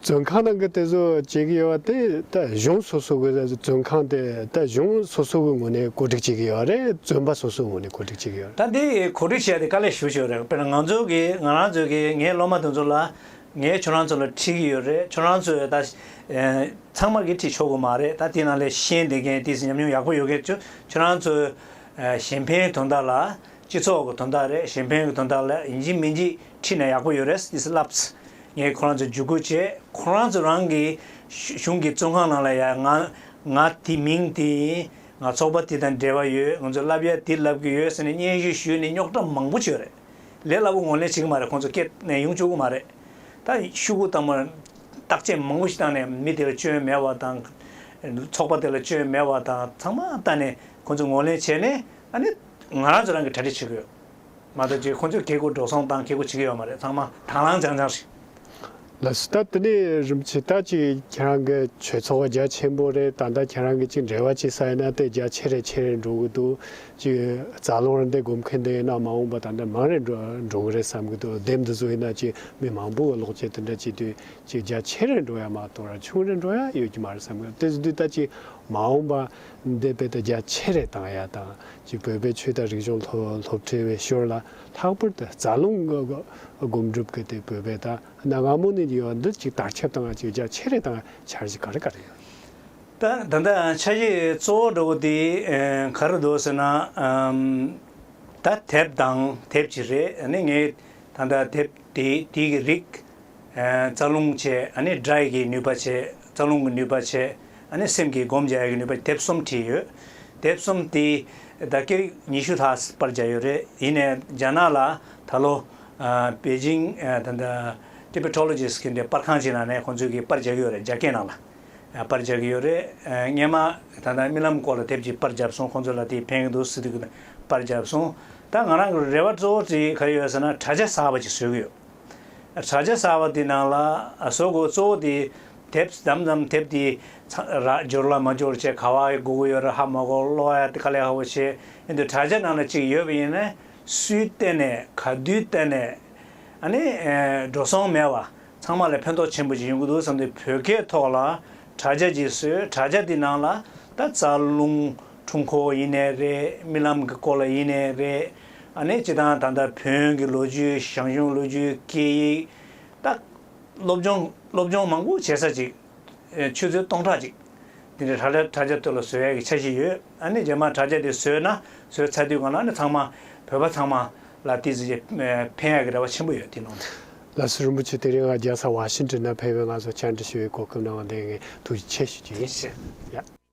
བཙོན་ཁང་ནང་གི་དེ་ཚོ་བྱེད་ཀྱི་ཡོད་པ་དེ་ད་གཞུང་སོ་སོ་གི་བཙོན་ཁང་དེ་ད་གཞུང་སོ་སོ་གི་ངོས་ནས་གོ་སྒྲིག་བྱེད་ཀྱི་ཡོད་རེད་བཙོན་པ་སོ་སོའི་ངོས་ནས་གོ་སྒྲིག་བྱེད་ཀྱི་ཡོད་རེད། ད་འདི་གོ་སྒྲིག་བྱས་ཏེ་དཀའ་ལས་ཞུ་ཞུ་རེད་དཔེར་ན་ང་ཚོ་གི་ང་རང་ཚོ་གི་ངའི་སློབ་མ་དེ་ཚོ་ལ་ངས་ཁྱོད་རང་ཚོ་ལ་ཁྲིད་ཀྱི་ཡོད་རེད་ཁྱོད་རང་ཚོས་ད། ཚང་མར་གྱི་ཁྲིད་ཆོག་གི་མ་རེད་ད་དེ་ནང་ལས་ཤེས་ལྡན་མཁན་དེ་སྲིད་ཉམས་མྱོང་ཡག་པོ་ཡོད་མཁན་ཚོས་ཁྱོད་རང་ཚོའི། གཞན་ཕན་དོན་དག་ལ། སྤྱི་ཚོགས་ཀྱི་དོན་དག་རེད་གཞན་ཕན་གྱི་དོན་དག་ལ་ཡིན་གཅིག་མིན་གཅིག་ཁྲིད་ན་ཡག་པོ་ཡོད་རེད་དེ་སྲིད་ལབ། ངས་ཁོ་རང་ཚོ་བརྒྱུད་སྐུལ་བྱས་ཁོ་རང་ཚོས་རང་གི། གཞུང་གི་བཙོན་ཁང་ནང་ལ་ཡ་ང། ང་དེ་མིང་དེ་ཡིན། ང་ཚོགས་པ་དེ་དང་འབྲེལ་བ་ཡོད་ང་ཚོས་ལབ་ཡ་དེ་ལབ་ཀྱི་ཡོད་ཟེར་ནས་སྙན་ཞུ་ཞུས་ནས་རྙོག་དྲ་མང་པོ་བྱོས་རེད། ལས་སླ་པོ་ངོ་ལེན་བྱེད་ཀྱི་མ་རེད་ཁོང་ཚོ་སྐད་ནས་ཡོང་བཅུག་གི་མ་རེད། ད་ཤུ་གུ་དང་པོར་བརྟག་དཔྱད་མང་པོ་ཞིག་བཏང་ནས་མི་དེ་ལ་སྐྱོན་མེད་པ་དང། ཚོགས་པ་དེ་ལ་སྐྱོན་མེད་པ་དང་ཚང་མ་བལྟ་ནས་ཁོང་ཚོ་ངོ་ལེན་བྱས་ནས་ཨ་ནི་ང་རང་ཚོ་རང་གིས་གྲ་སྒྲིག་བྱེད་ཀྱི་ཡོད། མ་གཏོགས་ཀྱི་ཁོང་ཚོས་གེ་སྒོ་འགྲོ་སོང་དང་གེ་སྒོ་བྱེད་ཀྱི་ཡོད་མ་རེད་ཚང་མ་དྭངས་བླངས་རྒྱང་རྒྱང་རེད། ལ་སུ་ད་དེ་ནས་རིམ་ཇི་ལྟར་ཅིག་ཁྱེད་རང་གི་ཆོས་ཚོགས་རྒྱ་ཆེན་པོ་རེད་ད་ལྟ་ཁྱེད་རང་གི་ཅིག་འབྲེལ་བ་ཅིག་ས་ཡོད་ན་དེ་རྒྱ་ཆེ་རེ་ཆེ་རེ་འགྲོ་གི་འདུག་ཅིག་རྩ་རླུང་རེ་འདི་སྒོམ་མཁན་དེ་ཡོད་ན་མ་འོངས་པ་ད་འདྲ་མང་རེ་འགྲོ་འགྲོ་གི་རེད་བསམ་གི་འདུག་སྡེབ་འདི་ཚོ་ཡོད་ན་ཅིག་མི་མང་པོ་གི་ལོག་སྤྱད་དེ་འདྲ་བྱེད་དུས་ཅིག་རྒྱ་ཆེ་རེ་འགྲོ་ཡ་མ་གཏོགས་ར་ཆུང་རེ་འགྲོ་ཡ་ཡོད་ཀྱི་མ་རེད་བསམ་གི་འདུག་དེ་དུས་ད་ཅིག་མ་འོངས་པ་འདི་དཔེ་ད་རྒྱ་ཆེ་རེ་བཏང་ཡ་དང་ཅིག་བོད་པའི་ཆོས་དང་རིག་གཞུང་སློབ་སློབ་ཁྲིད་བའི་ཞོར་ལ་ལྷག་པར་དུ་རྩ་རླུང་སྒོམ་སྒྲུབ་ཀྱི་དེ་བོད་པའི་དང་གནའ་སྔ་མོ་ནས་ཡོད་འདི་གཅིག་དར་ཁྱབ་དང་བཅོས་རྒྱ་ཆེ་རེ་དང་འཆར་གཞི་ག་རེ་ག་རེ་ཡོད། ད་ད་ལྟ་འཆར་གཞི་གཙོ་བོ་འགྲོ་བ་དེ་ག་རེ་འདུག་ཟེར་ན། ད་དེབ་དང་དེབ་ཅིག་རེ་ནི་ངས་ད་ལྟ་དེབ་དེ་དེའི་རིགས་རྩ་རླུང་ཆེ་ཨ་ནི་སྒྲ་ཡི་གི་ནུས་པ་ཆེ་རྩ་རླུང་གི་ནུས་པ་ཆེ། ཨ་ནི་སེམས་ཀྱི་སྒོམ་བྱ་ཡི་ནུས་པ་དེབ་གསུམ་བྲིས་ཡོད། དེབ་གསུམ་དེ་ཟླ་སྐར་ཉི་ཤུ་ལྷག་པར་བྱས་ཡོད་རེད། ཡིན་ནས་རྒྱ་ནག་ལ་ད་ལོ། པེ་ཅིང། Tibettologist། གི་འདྲེ་པར་ཁང་ཅིག་ནང་ནས་ཁོང་ཚོས་གིས་པར་བྱ་གི་ཡོད་རེད་རྒྱ་སྐད་ནང་ལ། པར་བྱ་གི་ཡོད་རེད། སྔན་མ། ད་ལྟ་རྨི་ལམ་སྐོར་ལ་དེབ་ཅིག་པར་བྱབ་སོང་ཁོང་ཚོས་ལ་དེ་ཕན་གི་འདུག་སི་ཏུ་པར་བྱབ་སོང། ད་ང་རང་གི་རེ་བ་གཙོ་བོ་དེ་ག་རེ་ཡོད་ཟེར་ན་དྲྭ་ཇ་གསར་བ་ཅིག་བཟོས་གི་ཡོད། དྲྭ་ཇ་གསར་བ་དེ་ནང་ལ་བཟོ་དགོས་གཙོ་བོ་དེ། དེབས་དམ་ཙམ་དེབས་དེ་ར་འབྱོར་ལ་མ་འབྱོར་བྱས་ག་བ་ཡི་གུ་གུ་ཡོད་ར་ཧ་མ་གོ་ལོ་ཡ་དེ་ག་ལེ་ཧ་བོ་བྱས་ཡོད་འདུག་དྲ་རྒྱ་ནང་ལ་གཅིག་ཡོད་པ་ཡིན་ནས་སུའི་བསྟེན་ནས་ག་དུས་བསྟེན་ནས་ཨ་ནི་འགྲོ་སོང་མེད་བ་ཚང་མ་ལ་ཕན་ཐོག་ཆེན་པོ་ཅིག་ཡོང་གི་འདུག་བསམ་དུས་བོད་སྐད་ཐོག་ལ་དྲ་རྒྱ་གཅིག་བཟོས་དྲ་རྒྱ་དེ་ནང་ལ་ད་རྩ་རླུང་འཁྲུངས་ཁོ་ཡིན་ནས་རེད་རྨི་ལམ་གི་སྐོར་ལ་ཡིན་ནས་རེད་ཨ་ནི་སྤྱི་བཏང་ད་ལྟ་བོན་གྱི་ལོ་རྒྱུས་ཞང་ཞུང་ལོ་རྒྱུས་སྐད་ཡིག་ད། སློབ་སྦྱོང་སློབ་སྦྱོང་མང་པོ་བྱེད་ས་ཅིག། ཆུ་ཚོད་སྟོང་ཕྲག་ཅིག། དེ་ནས་དྲ་རྒྱ་དྲ་རྒྱ་དེ་ལ་བཟོས་ཡག་གི་འཆར་གཞི་ཡོད། ཨ་ནི་རྗེས་མར་དྲ་རྒྱ་དེ་བཟོས་ན་བཟོས་ཚར་དུས་གང་ལ་ཨ་ནི་ཚང་མ་བོད་པ་ཚང་མ་ལ་དེ་བཟོས་རྗེས་ཕན་ཡག་གི་རེ་བ་ཆེན་པོ་ཡོད་དེ་ནང་དུ། བླ་སེར་རིན་པོ་ཆེ་དེ་རིང་ང་རྒྱལ་ས་ཝཱ་ཤིན་ཏོན་ན་ཕེབས་པས་ང་ཚོ་བཅར་འདྲི་ཞུ་བའི་གོ་སྐབས་གནང་བ་དེ་ངས་ཐུགས་རྗེ་ཆེ་ཞུ་རྒྱུ་ཡིན།